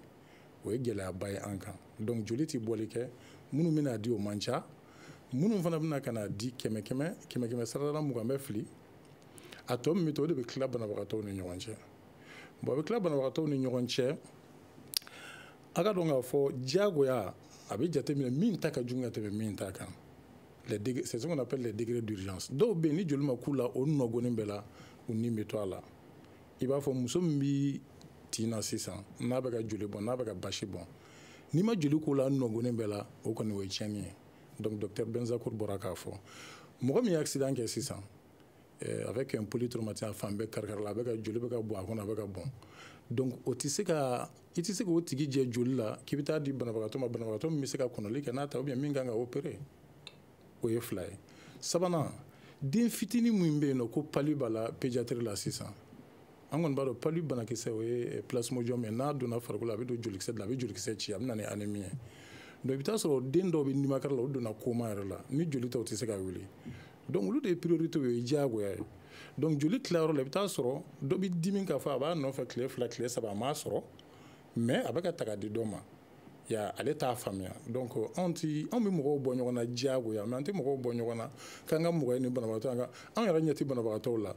o ye gɛlɛyaba ye an kan donc joli tɛ bɔli kɛ minnu bɛna di o man ca minnu fana bɛna ka na di kɛmɛ kɛmɛ kɛmɛ kɛmɛ sarada mugan bɛ fili a tɔ min bɛ to o de bɛ tila banabagatɔw ni ɲɔgɔn cɛ bon a bɛ tila banabagatɔw ni ɲɔgɔn cɛ a ka dɔn k'a fɔ diyagoya a bɛ jateminɛ min ta ka jugu ka tɛmɛ min ta kan c'est ce qu'on appelle les degrés d'urgence dɔw bɛ yen ni joli ma k'u la o nɔgɔnin bɛɛ la u ni bɛ to a la i b'a fɔ muso min bɛ tin na sisan n'a bɛ ka joli bɔn n'a bɛ ka basi bɔn n'i ma joli k'o la nɔgɔnin bɛɛ la o kɔni o ye tiɲɛni ye donc docteur Benzacourt bɔra k'a fɔ mɔgɔ min ye accident kɛ sisan eh, avec un polytraumatisme a fan bɛɛ karikarila a bɛ ka joli bɛ ka bɔn a kɔnɔ a bɛ ka bɔn donc o tɛ se ka i tɛ se k'o tigi jɛ joli la k'i bɛ taa di banabagatɔ ma banabagatɔ min bɛ se ka kɔnɔli kɛ n'a ta ou bien min kan ka opérer o ye fila ye sabanan den fitinin min bɛ yen n'o ko palu b'a la pédiatrie la sisan an kɔni b'a dɔn palu banakisɛ o ye eh, plasmodium ye n'a donna farikolo la a bɛ don jolikisɛ de la a bɛ jolikisɛ ci a bɛ na ni anémie ye donc i bɛ taa sɔrɔ den dɔw bɛ nimakara la o donna coma yɛrɛ la ni joli tɛ o tɛ se ka wuli donc olu de ye priorité ye diyagoya ye donc joli tilayɔrɔ la i bɛ taa sɔrɔ dɔ bɛ dimi k'a fɔ a b'a nɔfɛ tile fila tile saba a m'a sɔrɔ mais a bɛ ka ta ka di dɔ ma ya ale t'a faamuya donc anw tɛ anw bɛ mɔgɔw bɔ ɲɔgɔn na diyagoya mais an tɛ mɔgɔw bɔ ɲɔgɔn na k'an ka mɔgɔ ye nin banabagatɔ an ka anw yɛrɛ ɲɛ tɛ banabagatɔw la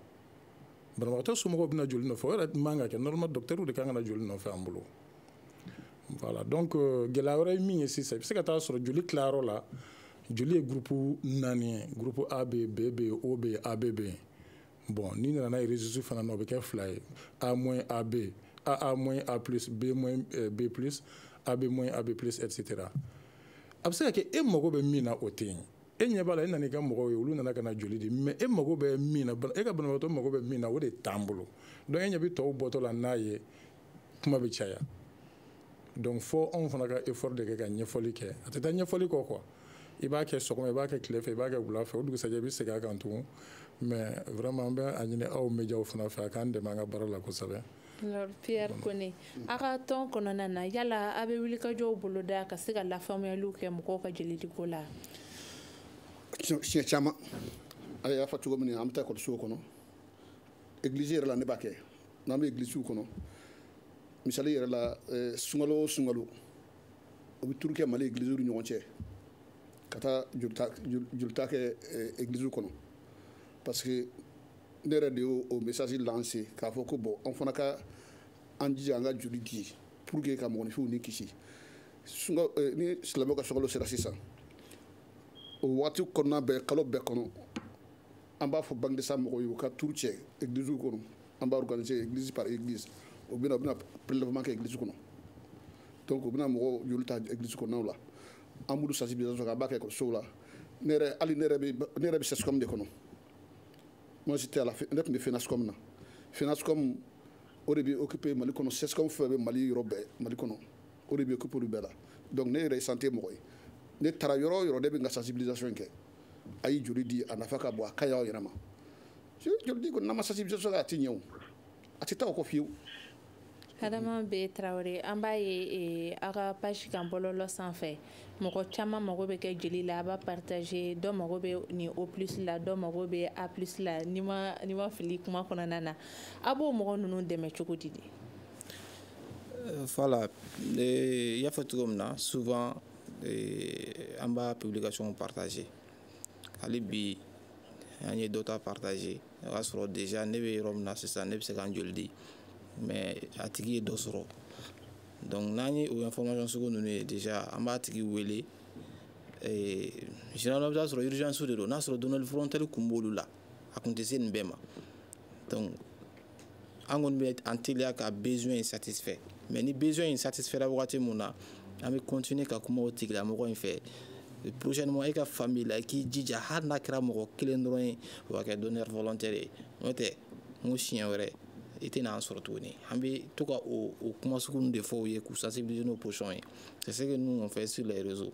banabagatɔ somɔgɔw bɛ na joli nɔfɛ o yɛrɛ man ka kɛ normalement docteur de kan ka na joli nɔfɛ an bolo voilà donc euh, gɛlɛya wɛrɛ ye min ye sisan i bɛ se ka taa sɔrɔ joli tilayɔrɔ la joli ye groupe naani ye groupe A bɛ yen B bɛ yen O bɛ yen AB bɛ yen bon n'i nana n'a ye rhésus fana na o bɛ kɛ fila ye A moins AB A A moins A plus B moins eh, B plus AB moins AB plus etc a bɛ se ka kɛ e mago bɛ min na o tɛ yen e ɲɛ b'a la e nana n'i ka mɔgɔw ye olu nana ka na joli di mais e mago bɛ min na e ka banabagatɔ mago bɛ min na o de t'an bolo donc e ɲɛ bɛ tɔw bɔtɔ la n'a ye kuma bɛ caya donc fo anw fana ka effort de kɛ ka ɲɛfɔli kɛ a tɛ taa ɲɛfɔli kɔ quoi i b'a kɛ sɔgɔma i b'a kɛ tile fɛ i b'a kɛ wula fɛ o dugusajɛ i bɛ segin a kan tugun mais vraiment an bɛ a ɲini aw médiaw fana fɛ a k'an dɛmɛ an ka baara la kosɛbɛ Alors Pierre Kone a ka tɔn kɔnɔna na yala a bɛ wulikajɔw boloda ka se ka lafaamuyaliw kɛ mɔgɔw ka jelidiko la siɲɛ caman a y'a fɔ cogo min na an bɛ taa ekɔlisow kɔnɔ egilizi yɛrɛ la ne b'a kɛ n'an bɛ egilisiw kɔnɔ misali yɛrɛ la eh, sunkalo o sunkalo o bɛ tour kɛ Mali egilisiw ni ɲɔgɔn cɛ ka taa jolita kɛ egilisiw eh, kɔnɔ parce que ne yɛrɛ de y'o message lancer k'a fɔ ko bon an fana ka an jija an ka joli di pour que ka mɔgɔninfinw ni kisi sunka eh, ni silamɛw ka sunkalo sera sisan o waati kɔnɔna bɛɛ kalo bɛɛ kɔnɔ an b'a fɔ banque de sang mɔgɔw ye u ka tour kɛ eglisiw kɔnɔ an b'a organiser église par église o bɛna u bɛna prélèvement kɛ église kɔnɔ donc u bɛna mɔgɔw joli ta église kɔnɔnaw la an b'olu sensibilisation kɛ an b'a kɛ ekɔlisow la ne yɛrɛ hali ne yɛrɛ bɛ ne yɛrɛ bɛ CSCOM de kɔnɔ moi j'étais à la ne tun bɛ FENASCOM na FENASCOM o de bɛ occuper mali kɔnɔ CSCOM fɛn bɛ mali yɔrɔ bɛɛ mali kɔnɔ o de bɛ occuper olu bɛɛ la donc ne yɛrɛ ye santé mɔgɔ ye ne taara yɔrɔ o yɔrɔ ne bɛ n ka sensibilisation kɛ a ye joli di a nafa ka bon a ka ɲi aw yɛrɛ ma joli di kɔni n'an ma sensibilisation kɛ a tɛ ɲɛ o a tɛ taa o kɔ fiyewu Adama B Traoré an b'a ye eh, aw ka page kan bɔlɔlɔ sanfɛ mɔgɔ caman mago bɛ kɛ jeli la a b'a partager dɔ mago bɛ nin O plus la dɔ mago bɛ A plus la ni n ma ni n ma fili kuma kɔnɔna na a b'o mɔgɔ ninnu dɛmɛ cogo di de eh, voilà eh, i y'a fɔ cogo min na souvent an b'a publication partager hali bi an ye dɔ ta partager o y'a sɔrɔ déjà ne bɛ yɔrɔ min na sisan ne bɛ se ka n joli di mais a tigi ye dɔ sɔrɔ donc n'an ye o information sugu ninnu ye déjà an b'a tigi wele généralement i bɛ taa sɔrɔ urgence de don n'a sɔrɔ donneur volontaire kun b'olu la a kun tɛ se nin bɛɛ ma donc an kɔni bɛ an teliya ka besoin in satisfait mais ni besoin in satisfaira wagati mun na an bɛ continuer ka kuma o tigilamɔgɔ in fɛ prochainement e ka famille la i k'i jija hali n'a kɛra mɔgɔ kelen dɔrɔn ye o ka kɛ donneur volontaire ye n'o tɛ n ko siɲɛ wɛrɛ i tɛna an sɔrɔ tuguni an bɛ to ka o o kuma sugu ninnu de fɔ u ye k'u sensibiliser n'o position ye c'est ce que nous on fait sur les réseaux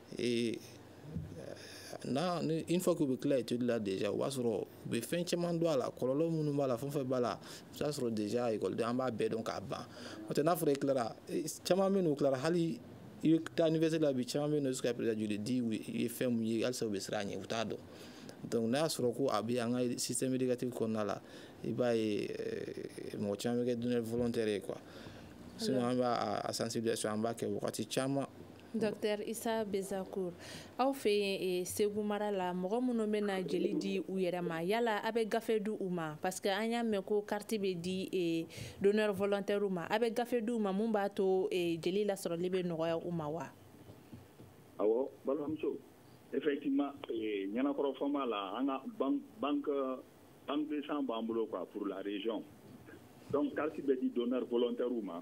Et n'a ni une fois qu'u bɛ tila étude la déjà o b'a sɔrɔ u bɛ fɛn caman dɔn a la kɔlɔlɔ minnu b'a la fɛn fɛn b'a la i b'a sɔrɔ déjà ekɔliden an b'a bɛɛ dɔn k'a ban n'o tɛ n'a fɔra i tilara caman bɛ n'u tilara hali i bɛ taa université la bi caman bɛ yen nɔ jusqu'à présent joli di o ye fɛn mun ye halisa u bɛ siran a ɲɛ u t'a dɔn donc n'a y'a sɔrɔ ko a bɛ an ka système éducatif kɔnɔna la i b'a ye mɔgɔ caman bɛ kɛ donneur volontaire ye quoi sinon an b'a a sensibilisation an b'a kɛ wagati caman Docteur Issa Ben Zacour aw fɛ yen segu mara la mɔgɔ minnu bɛ na jeli di u yɛrɛ ma yala aw bɛ gafe di u ma parce que an y'a mɛn ko carte bɛ di donneur volontairew ma aw bɛ gafe di u ma min b'a to jeli lasɔrɔli bɛ nɔgɔya u ma wa awɔ balimamuso e Nianankoro Fomba la an ka banque de sang b'an bolo quoi pour la région donc carte bɛ di donneur volontaire ma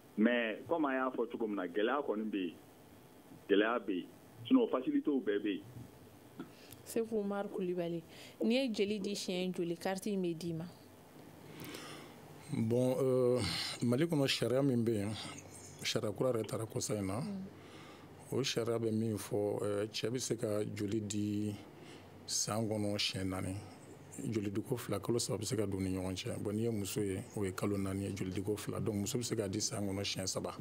mais comme an y'a fɔ cogo min na gɛlɛya kɔni bɛ yen gɛlɛya bɛ yen sinon facilitew bɛɛ bɛ yen. seku umaru kulibali n'i ye jeli di siɲɛ joli kariti in bɛ d'i ma. bon euh, mali kɔnɔ sariya min bɛ yen sariya kura yɛrɛ tara kɔsa in na mm. o sariya bɛ min fɔ euh, cɛ bɛ se ka joli di san kɔnɔ siɲɛ naani. jolidiko fila kalo saba bɛ se ka don ni ɲɔgɔn cɛ bon n'i ye muso ye o ye kalo naani ye jolidiko fila donc muso bɛ se k'a di san kɔnɔ siɲɛ saba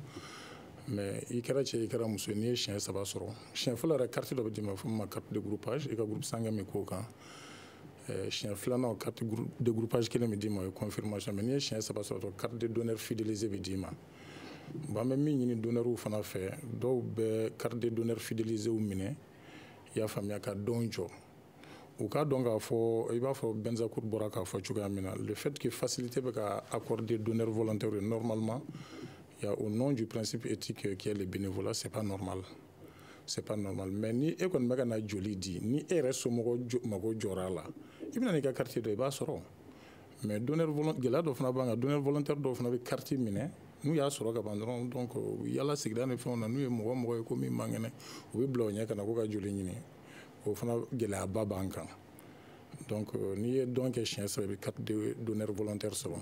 mais i kɛra cɛ i kɛra muso n'i ye siɲɛ saba sɔrɔ siɲɛ fɔlɔ yɛrɛ kariti dɔ bɛ d'i ma f'o ma kariti de groupage i ka groupe sanguin min k'o kan eh, siɲɛ filanan o kariti de groupage kelen bɛ d'i ma o ye confirmation mais n'i ye siɲɛ saba sɔrɔ dɔrɔn kariti de donneur fidélisé bɛ d'i ma bon an bɛ min ɲini donneurw fana fɛ dɔw bɛ kariti de donneur fidéliséw minɛ i y'a faamuya ka don jɔ u k'a dɔn k'a fɔ i b'a fɔ bɛnzakur bɔra k'a fɔ cogoya min na le fait que facilité bɛ ka accorder donneur volontaire ye normalement il y a au nom du principe éthique qui est le bénévolat c'est pas normal c'est pas normal mais ni e kɔni bɛ ka na joli di ni e yɛrɛ somɔgɔ mago jɔra a la i bɛna n'i ka carte dɔ i b'a sɔrɔ mais donneur volontaire gɛlɛya dɔ fana b'an kan donneur volontaire dɔw fana bɛ carte minɛ n'u y'a sɔrɔ ka ban dɔrɔn donc yaala sigida ni fɛnw na n'u ye mɔgɔ mɔgɔ ye ko min man kɛnɛ u bɛ bila o ɲɛ ka na ko ka joli ɲini o fana gɛlɛyaba b'an kan donc euh, n'i ye don kɛ siɲɛ saba i bɛ carte de donneur volontaire sɔrɔ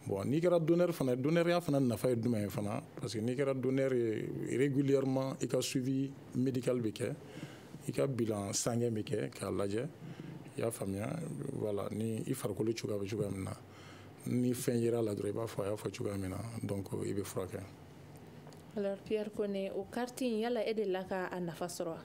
bon n'i kɛra donneur fana donneurya fana nafa ye jumɛn ye fana parce que n'i kɛra donneur ye régulièrement i ka suivi médical bɛ kɛ i ka bilan sanguin bɛ kɛ k'a lajɛ i y'a faamuya voilà ni i farikolo cogoya bɛ cogoya min na ni fɛn yera a la dɔrɔn i b'a fɔ a y'a fɔ cogoya min na donc i bɛ furakɛ. alors Pierre Kone o carte in yala e delila ka a nafa sɔrɔ wa?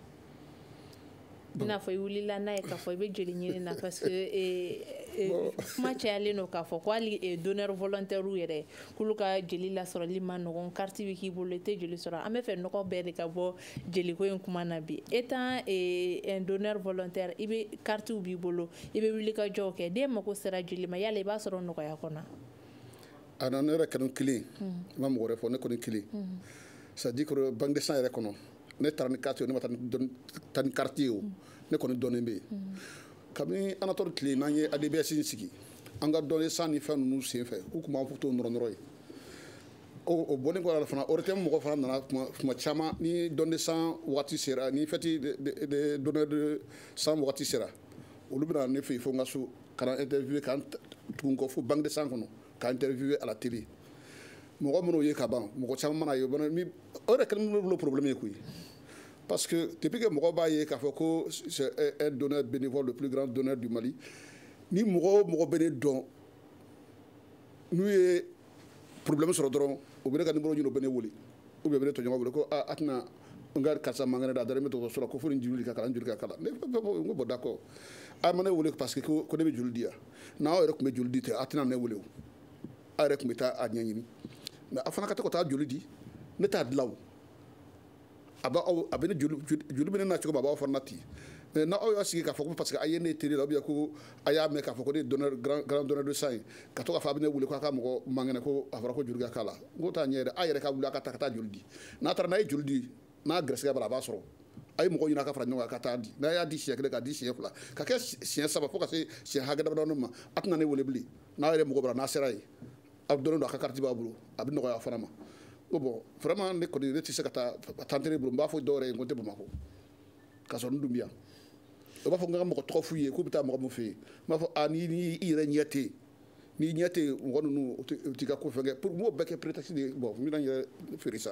i n'a fɔ i wulila n'a ye k'a fɔ i bɛ joli ɲini na parce que eh, eh, kuma cayalen don k'a fɔ ko hali eh, donneur volontaire yɛrɛ k'olu ka jeli lasɔrɔli man nɔgɔn carte bɛ k'i bolo i tɛ joli sɔrɔ an b'a fɛ nɔgɔ bɛɛ de ka bɔ jeliko in kuma na bi étant un donneur volontaire i bɛ carte b'i bolo i bɛ wuli ka jɔ ko ne mago sera joli ma yala i b'a sɔrɔ nɔgɔya kɔnɔ a nana ne yɛrɛ kan ko kelen n ma mɔgɔ wɛrɛ fɔ ne kɔni kelen c'est à dire banque de sang yɛrɛ kɔnɔ ne taara ni carte ne ma taa ni kariti ye o ne kɔni dɔnnen bɛ yen kabini anatɔli tile n'an ye ADBS in sigi an ka don de sang ni fɛn ninnu sen fɛ u tun b'an fo to nɔrɔnɔrɔ ye o bɔlen kɔ a la fana ORTM mɔgɔ fana nana tuma caman ni don de sang waati sera ni fɛti donneur de sang waati sera olu bɛna ne fɛ yen fo n ka so ka na interview ka tugu n kɔ fo banque de sang kɔnɔ ka interviewer à la télé mɔgɔ minnu ye ka ban mɔgɔ caman mana n ye o yɛrɛ kɛlen bɛ n bolo problème ye koyi parce que depuis que mɔgɔ b'a ye k'a fɔ ko c'est un donneur bénévole le plus grand donneur du Mali ni mɔgɔ o mɔgɔ bɛ ne dɔn n'u ye problème sɔrɔ dɔrɔn u bɛ ne ka numéro ɲini u bɛ ne wele ou bien u bɛ ne tɔɲɔgɔn wele ko a a tɛna n ka karisa man kɛnɛ a dalen bɛ dɔgɔtɔrɔso la ko fo ni joli ka k'a la joli ka k'a la ne ko ko bon d'accord a ma ne wele parce que ko ne bɛ joli di yan n'aw yɛrɛ tun bɛ joli di tɛ a tɛna ne wele o aw yɛrɛ tun bɛ taa a ɲɛɲini mais a fana ka to ka taa joli di ne t'a dilan o a b'a aw a bɛ ne joli joli bɛ ne na cogo min a b'aw fana na ten mais n'aw y'a sigi k'a fɔ ko parce que a ye ne ye télé la ou bien ko a y'a mɛn k'a fɔ ko ne grand donneur de sang ye ka to k'a fɔ a bɛ ne wele k'a ka mɔgɔ man kɛnɛ ko a fɔra ko joli ka k'a la n ko o t'a ɲɛ a yɛrɛ a yɛrɛ ka wuli a ka taa ka taa joli di n'a taara n'a ye joli di n'a garisɛgɛ b'a la a b'a sɔrɔ a ye mɔgɔ ɲini a ka fara ɲɔgɔn kan ka taa di n'a y'a di siɲɛ kelen k'a di siɲɛ fila ka kɛ siɲɛ saba fo ka se siɲɛ hakɛ damadɔni ma a tɛna ne wele bilen n'a yɛrɛ mago b'a la n'a sera yen a dɔnnen don a ka kariti b'a bolo a bɛ nɔgɔya a fana ma ko bon vraiment ne kɔni ne tɛ se ka taa tantere bolo n b'a fɔ dɔw yɛrɛ ye n ko n tɛ bamakɔ ka sɔrɔ n dun bi yan u b'a fɔ n ka mɔgɔ tɔgɔ f'u ye k'u bɛ taa mɔgɔ min fɛ yen n b'a fɔ a ni ni i yɛrɛ ɲɛ tɛ n'i ɲɛ tɛ mɔgɔ ninnu u t'i ka ko fɛn kɛ pour m'o bɛɛ kɛ prétexte de ye bon n bɛna n yɛrɛ fɛrɛ sa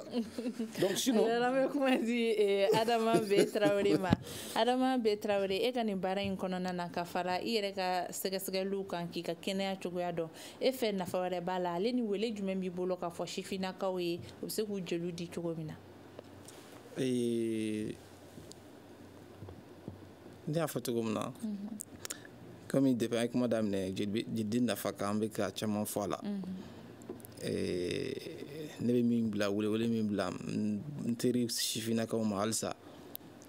donc sinon. alors an bɛ kuma di eh, Adama Be Tarawele ma Adama Be Tarawele e ka nin baara in kɔnɔna na ka fara i yɛrɛ ka sɛgɛsɛgɛliw kan k'i ka kɛnɛya cogoya dɔn e fɛ nafa wɛrɛ b'a la ale ni wele jumɛn b'i bolo k'a fɔ sifinnakaw ye u bɛ se k'u jeliw di cogo min na. Ee, ne y'a fɔ cogo min na comme depuis an ye kuma daminɛ jelibe- jelidi nafa kan an bɛ ka caman fɔ a la Ee, ne bɛ min bila welewele min bila n n teri sifinnakaw ma halisa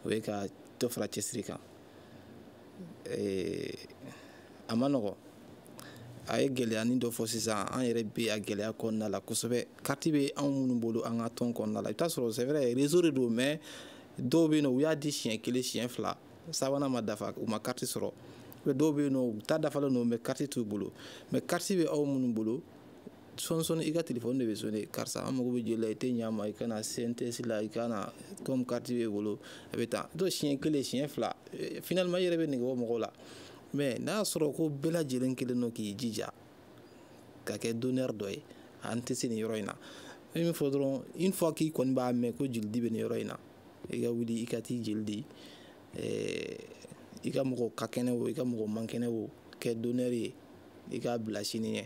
o ye ka dɔ fara cɛsiri kan ee a ma nɔgɔ a ye gɛlɛyani dɔ fɔ sisan an yɛrɛ bɛ a gɛlɛya kɔnɔna la kosɛbɛ kariti bɛ anw minnu bolo an ka tɔn kɔnɔna la i bɛ taa sɔrɔ c'est vrai réseau de don mais dɔw bɛ yen nɔ u y'a di siɲɛ kelen siɲɛ fila sabanan ma dafa u ma kariti sɔrɔ dɔw bɛ yen nɔ u ta dafalen don mais kariti t'u bolo mais kariti bɛ anw minnu bolo sɔɔni sɔɔni i ka telefɔni de bɛ sonner karisa an mago bɛ joli la i tɛ ɲɛ a ma i ka na CNTS la i ka na comme kariti b'e bolo a bɛ taa to siɲɛ kelen siɲɛ fila eh, finalement i yɛrɛ bɛ nege bɔ mɔgɔw la mais n'a y'a sɔrɔ ko bɛɛ lajɛlen kelen don k'i jija ka kɛ donneur dɔ ye an tɛ se nin yɔrɔ in na i min fɔ dɔrɔn une fois k'i kɔni b'a mɛn ko jolidi bɛ nin yɔrɔ in na i ka wuli i ka t'i jeli di eh, i ka mɔgɔ ka kɛnɛ o i ka mɔgɔ man kɛnɛ o kɛ donneur ye i k'a bila sini ɲɛ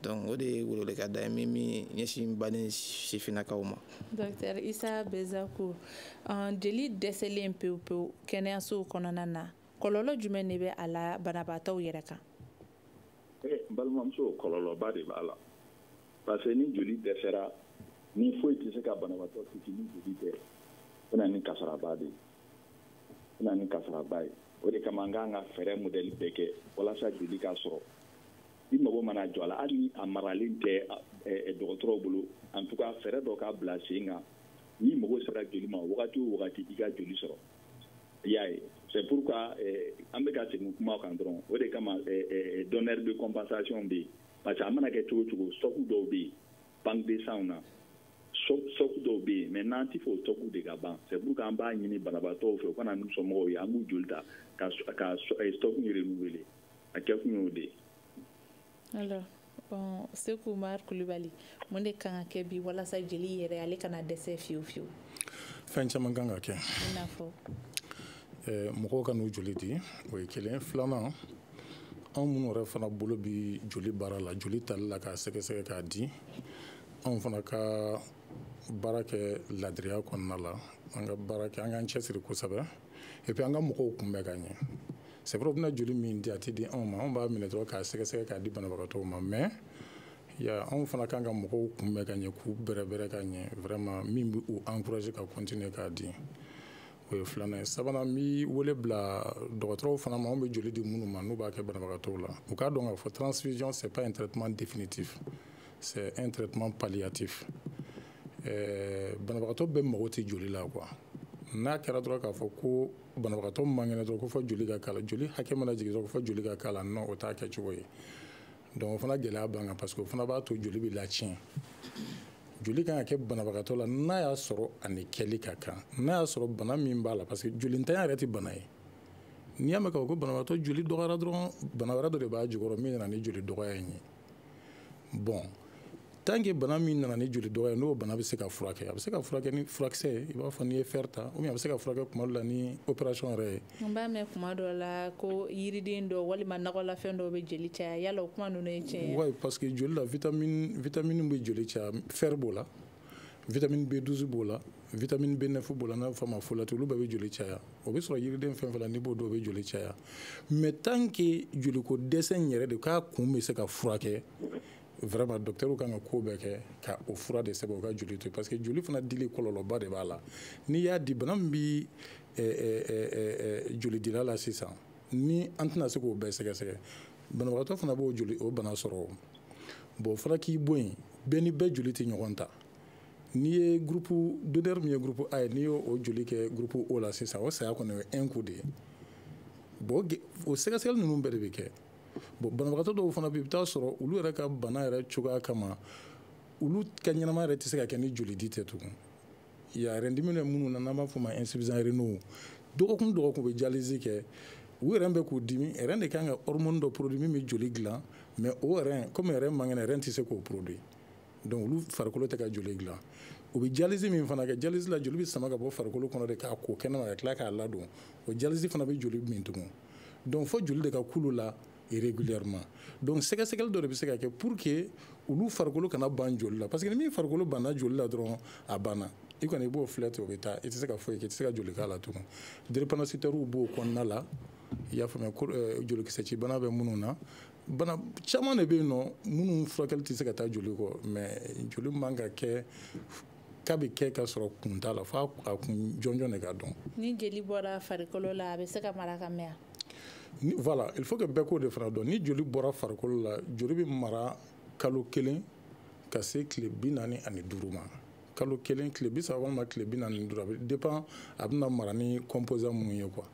donc o de ye welewelekan da ye min min ɲɛsin baden sifinnakaw ma docteur isa bezaku jeli dɛsɛlen pewu pewu kɛnɛyasow kɔnɔna na kɔlɔlɔ jumɛn de bɛ a la banabaatɔw yɛrɛ kan eh, n balimamuso kɔlɔlɔba de b'a la parce que ni joli dɛsɛra ni foyi tɛ se ka banabaatɔ kisi ni joli tɛ o na ni kasaraba de ye o na ni kasaraba ye o de kama an kan ka fɛɛrɛ modèle bɛɛ kɛ walasa joli ka sɔrɔ i mago mana jɔ a la hali ni a maralen tɛ dɔgɔtɔrɔw bolo en tout cas fɛɛrɛ dɔ ka bila sen kan n'i mago sera joli ma wagati o wagati i ka joli sɔrɔ i y'a ye c'est pourquoi an bɛ ka segin kuma kan dɔrɔn o de kama donneur de compensation bɛ yen parce que a mana kɛ cogo cogo stock dɔw bɛ yen banque de sang na stock dɔw bɛ yen mais n'an tɛ fɛ o stock de ka ban c'est pourquoi an b'a ɲini banabaatɔw fɛ u ka na n'u somɔgɔw ye an b'u joli ta ka stock in renouveler a kɛ kun y'o de ye. alors bon seku umar kulubali mun de kan ka kɛ bi walasa jeli yɛrɛ ale kana dɛsɛ fiyewu fiyewu. fɛn caman kan ka kɛ. i n'a fɔ. mɔgɔw ka n'u joli di o ye kelen filanan. anw minnu yɛrɛ fana bolo bi joli baara la joli tali la k'a sɛgɛsɛgɛ k'a di anw fana ka baara kɛ ladiriya kɔnɔna la an ka baara kɛ an k'an cɛsiri kosɛbɛ et puis an ka mɔgɔw kunbɛn ka ɲɛ c'est vrai u bɛna joli min di a tɛ di anw ma anw b'a minɛ dɔrɔn k'a sɛgɛsɛgɛ k'a di banabagatɔw ma mais anw fana kan ka mɔgɔw kunbɛn ka ɲɛ k'u bɛrɛbɛrɛ ka ɲɛ vraiment min bɛ u encourager ka continuer k'a di o ye filanan ye sabanan n bi wele bila dɔgɔtɔrɔw fana ma anw bɛ joli di minnu ma n'u b'a kɛ banabagatɔw la u k'a dɔn k'a fɔ transfusion c'est pas un traitement définitif c'est un traitement palliatif ɛɛ banabagatɔ bɛɛ mago tɛ joli la quoi n'a kɛra dɔrɔn k'a fɔ ko banabagatɔ man kɛnɛ dɔrɔn ko fo joli ka k'a la joli hakɛ mana jigin dɔrɔn ko fo joli ka k'a la non o t'a kɛcogo ye donc o fana gɛlɛya b'an kan parce que o fana b'a to joli bɛ latiɲɛ joli kan ka kɛ banabagatɔ la n'a y'a sɔrɔ a ni kɛli ka kan n'a y'a sɔrɔ bana min b'a la parce que jolintanya yɛrɛ tɛ bana ye n'i y'a mɛn k'a fɔ ko banabagatɔ joli dɔgɔyara dɔrɔn bana wɛrɛ dɔ de b'a jukɔrɔ min nana ni joli dɔgɔya in ye bon tant que bana min nana ni joli dɔgɔya n'o bana bɛ se ka furakɛ a bɛ se ka furakɛ ni furakisɛ ye i b'a fɔ n'i ye fer ta ou bien a bɛ se ka furakɛ kuma dɔ la ni opération yɛrɛ ye. n b'a mɛn kuma dɔ la ko yiriden dɔ walima nakɔlafɛn dɔw bɛ joli caya yala o kuma ninnu ye tiɲɛ ye. oui parce que joli la vitamine vitamine bɛ joli caya fer b'o la vitamine B12 b'o la vitamine B9 b'o la n'a bɛ fɔ a ma folate olu bɛɛ bɛ joli caya o bɛ sɔrɔ yiriden fɛn fɛn la n'i b'o dun o bɛ joli caya mais tant que joliko dɛsɛ in yɛrɛ de k'a kun bɛ se ka furakɛ. vraiment dɔktɛriw kan ka ko bɛɛ kɛ ka o fura de sɛbɛn u ka joli to parce que joli fana dili kɔlɔlɔba de b'a la n'i y'a di bana min bi eh, eh, eh, jolidila la sisan ni an tɛna se k'o bɛɛ sɛgɛsɛgɛ banabagatɔ fana b'o joli o bana sɔrɔ bon fana k'i bɔ yen bɛɛ ni bɛɛ joli tɛ ɲɔgɔn ta n'i ye groupe donneur min ye groupe a ye n'i y'o o joli kɛ groupe o la sisan o saya kɔni o ye un coup de ye bon o sɛgɛsɛgɛli ninnu bɛɛ de bɛ kɛ bon banabagatɔ dɔw fana bɛ i bɛ taa sɔrɔ olu yɛrɛ ka bana yɛrɛ cogoya kama olu ka ɲɛnama yɛrɛ tɛ se ka kɛ ni jolidi tɛ tugun ya rein dimi bɛ minnu na n'an b'a fɔ o ma insuffisants rénaux dɔgɔkun dɔgɔkun u bɛ dialyse kɛ u rein bɛ k'u dimi rein de kan ka hormone dɔ produit min bɛ joli dilan mais o rein comme rein man kɛnɛ rein tɛ se k'o produit donc olu farikolo tɛ ka joli dilan u bɛ dialyse min fana kɛ dialyse la joli bɛ sama ka bɔ farikolo kɔnɔ de k'a ko kɛnɛma ka tila k'a ladon o dialyse fana bɛ joli min tugun donc fo joli de ka k'olu la régulièrement donc sɛgɛsɛgɛli dɔ de bɛ se ka kɛ pour que olu farikolo kana ban joli la parce que ni min farikolo banna joli la dɔrɔn a banna i kɔni i b'o filɛ ten o bɛ taa i tɛ se ka foyi kɛ i tɛ se ka joli k'a la tugun drépanocytairew b'o kɔnɔna la i y'a faamuya euh, jolikisɛcibana bɛ minnu na bana caman de bɛ yen nɔ minnu furakɛli tɛ se ka taa joli kɔ mais joli man ka kɛ k'a bɛ kɛ ka sɔrɔ kun t'a la f'a kun jɔnjɔn de ka dɔn ni jeli bɔra farikolo la a bɛ se ka mara ka mɛn ni voilà il faut que bɛɛ k'o de fana dɔn ni joli bɔra farikolo la joli bɛ mara kalo kelen ka se tile bi naani ani duuru ma kalo kelen tile bi saba walima tile bi naani ni duuru a bɛ dépend a bɛna mara ni composant minnu ye quoi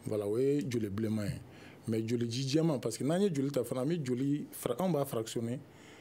voilà o ye joli bilenman ye mais joli ji jɛman parce que n'an ye joli ta fana an bɛ joli anw b'a fractionner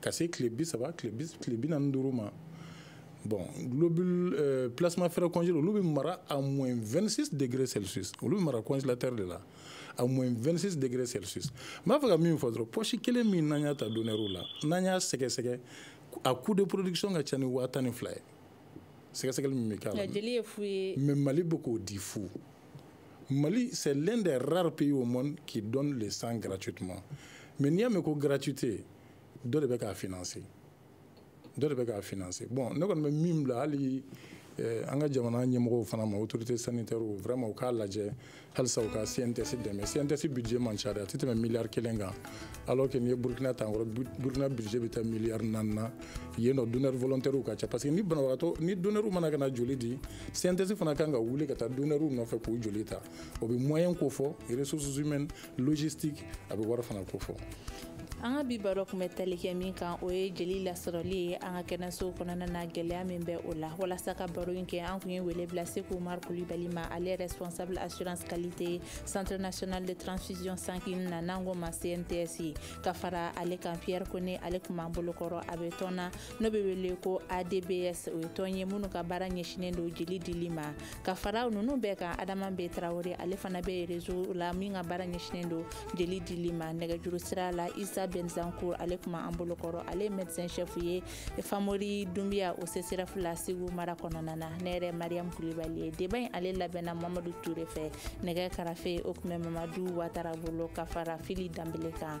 ka se tile bi saba tile bi naani duuru ma bon globule euh, plasma frais congelé olu bɛ mara à moins 26 degrés celsius olu bɛ mara congélateur de la à moins 26 degrés celsius n b'a fɛ ka min fɔ dɔrɔn poche kelen min n'an y'a ta donneurw la n'an y'a sɛgɛsɛgɛ a coût de production ka ca ni waa tan ni fila ye sɛgɛsɛgɛli min bɛ k'a la mais mali bɛ k'o di fu Mali, c'est l'un des rares pays au monde qui donne le sang gratuitement. Mais n'i y'a mɛn ko gratuité, dɔ de bɛ k'a financer. Bon, ne kɔni bɛ min bila hali an ka jamana ɲɛmɔgɔw fana ma autorité sanitaire vraiment u k'a lajɛ halisa u ka cnts dɛmɛ cnts budget man ca dɛ a tɛ tɛmɛ miliyari kelen kan alors que n'i ye burkina ta an kɔrɔ burkina budget bɛ taa miliyari naani na yen nɔ donneur volontaire ka ca parce que ni banabagatɔ ni donneur mana ka na joli di cnts fana kan ka wuli ka taa donneurw nɔfɛ k'u joli ta o bɛ moyen ko fɔ ressources humaines logistique a bɛ wari fana ko fɔ an ka bi baro kun bɛ tali kɛ min kan o ye jeli lasɔrɔli ye an ka kɛnɛsow kɔnɔna na gɛlɛya min bɛ o la walasa ka baro in kɛ an kun ye wele bila seku umar kulibali ma ale ye responsable assurance qualité centre national de transfusion sanguine na n'an k'o ma cnts ka fara ale kan pierre kone ale kun b'an bolokɔrɔ a bɛ tɔn na n'o bɛ wele ko adbs o ye tɔn ye minnu ka baara ɲɛsinnen don jeli dili ma ka fara ninnu bɛɛ kan adama b tarawele ale fana bɛ réseau la min ka baara ɲɛsinnen don jeli dili ma nɛgɛjuru sira la isa ben zakour ale kun b'an bolokɔrɔ ale ye médecin chef ye famori dunbiya o csref la segu mara kɔnɔna na ne yɛrɛ mariam kulibali ye débat in ale labɛnna mamadu ture fɛ nɛgɛ karafe o tun bɛ mamadu watara bolo ka fara fili danbele kan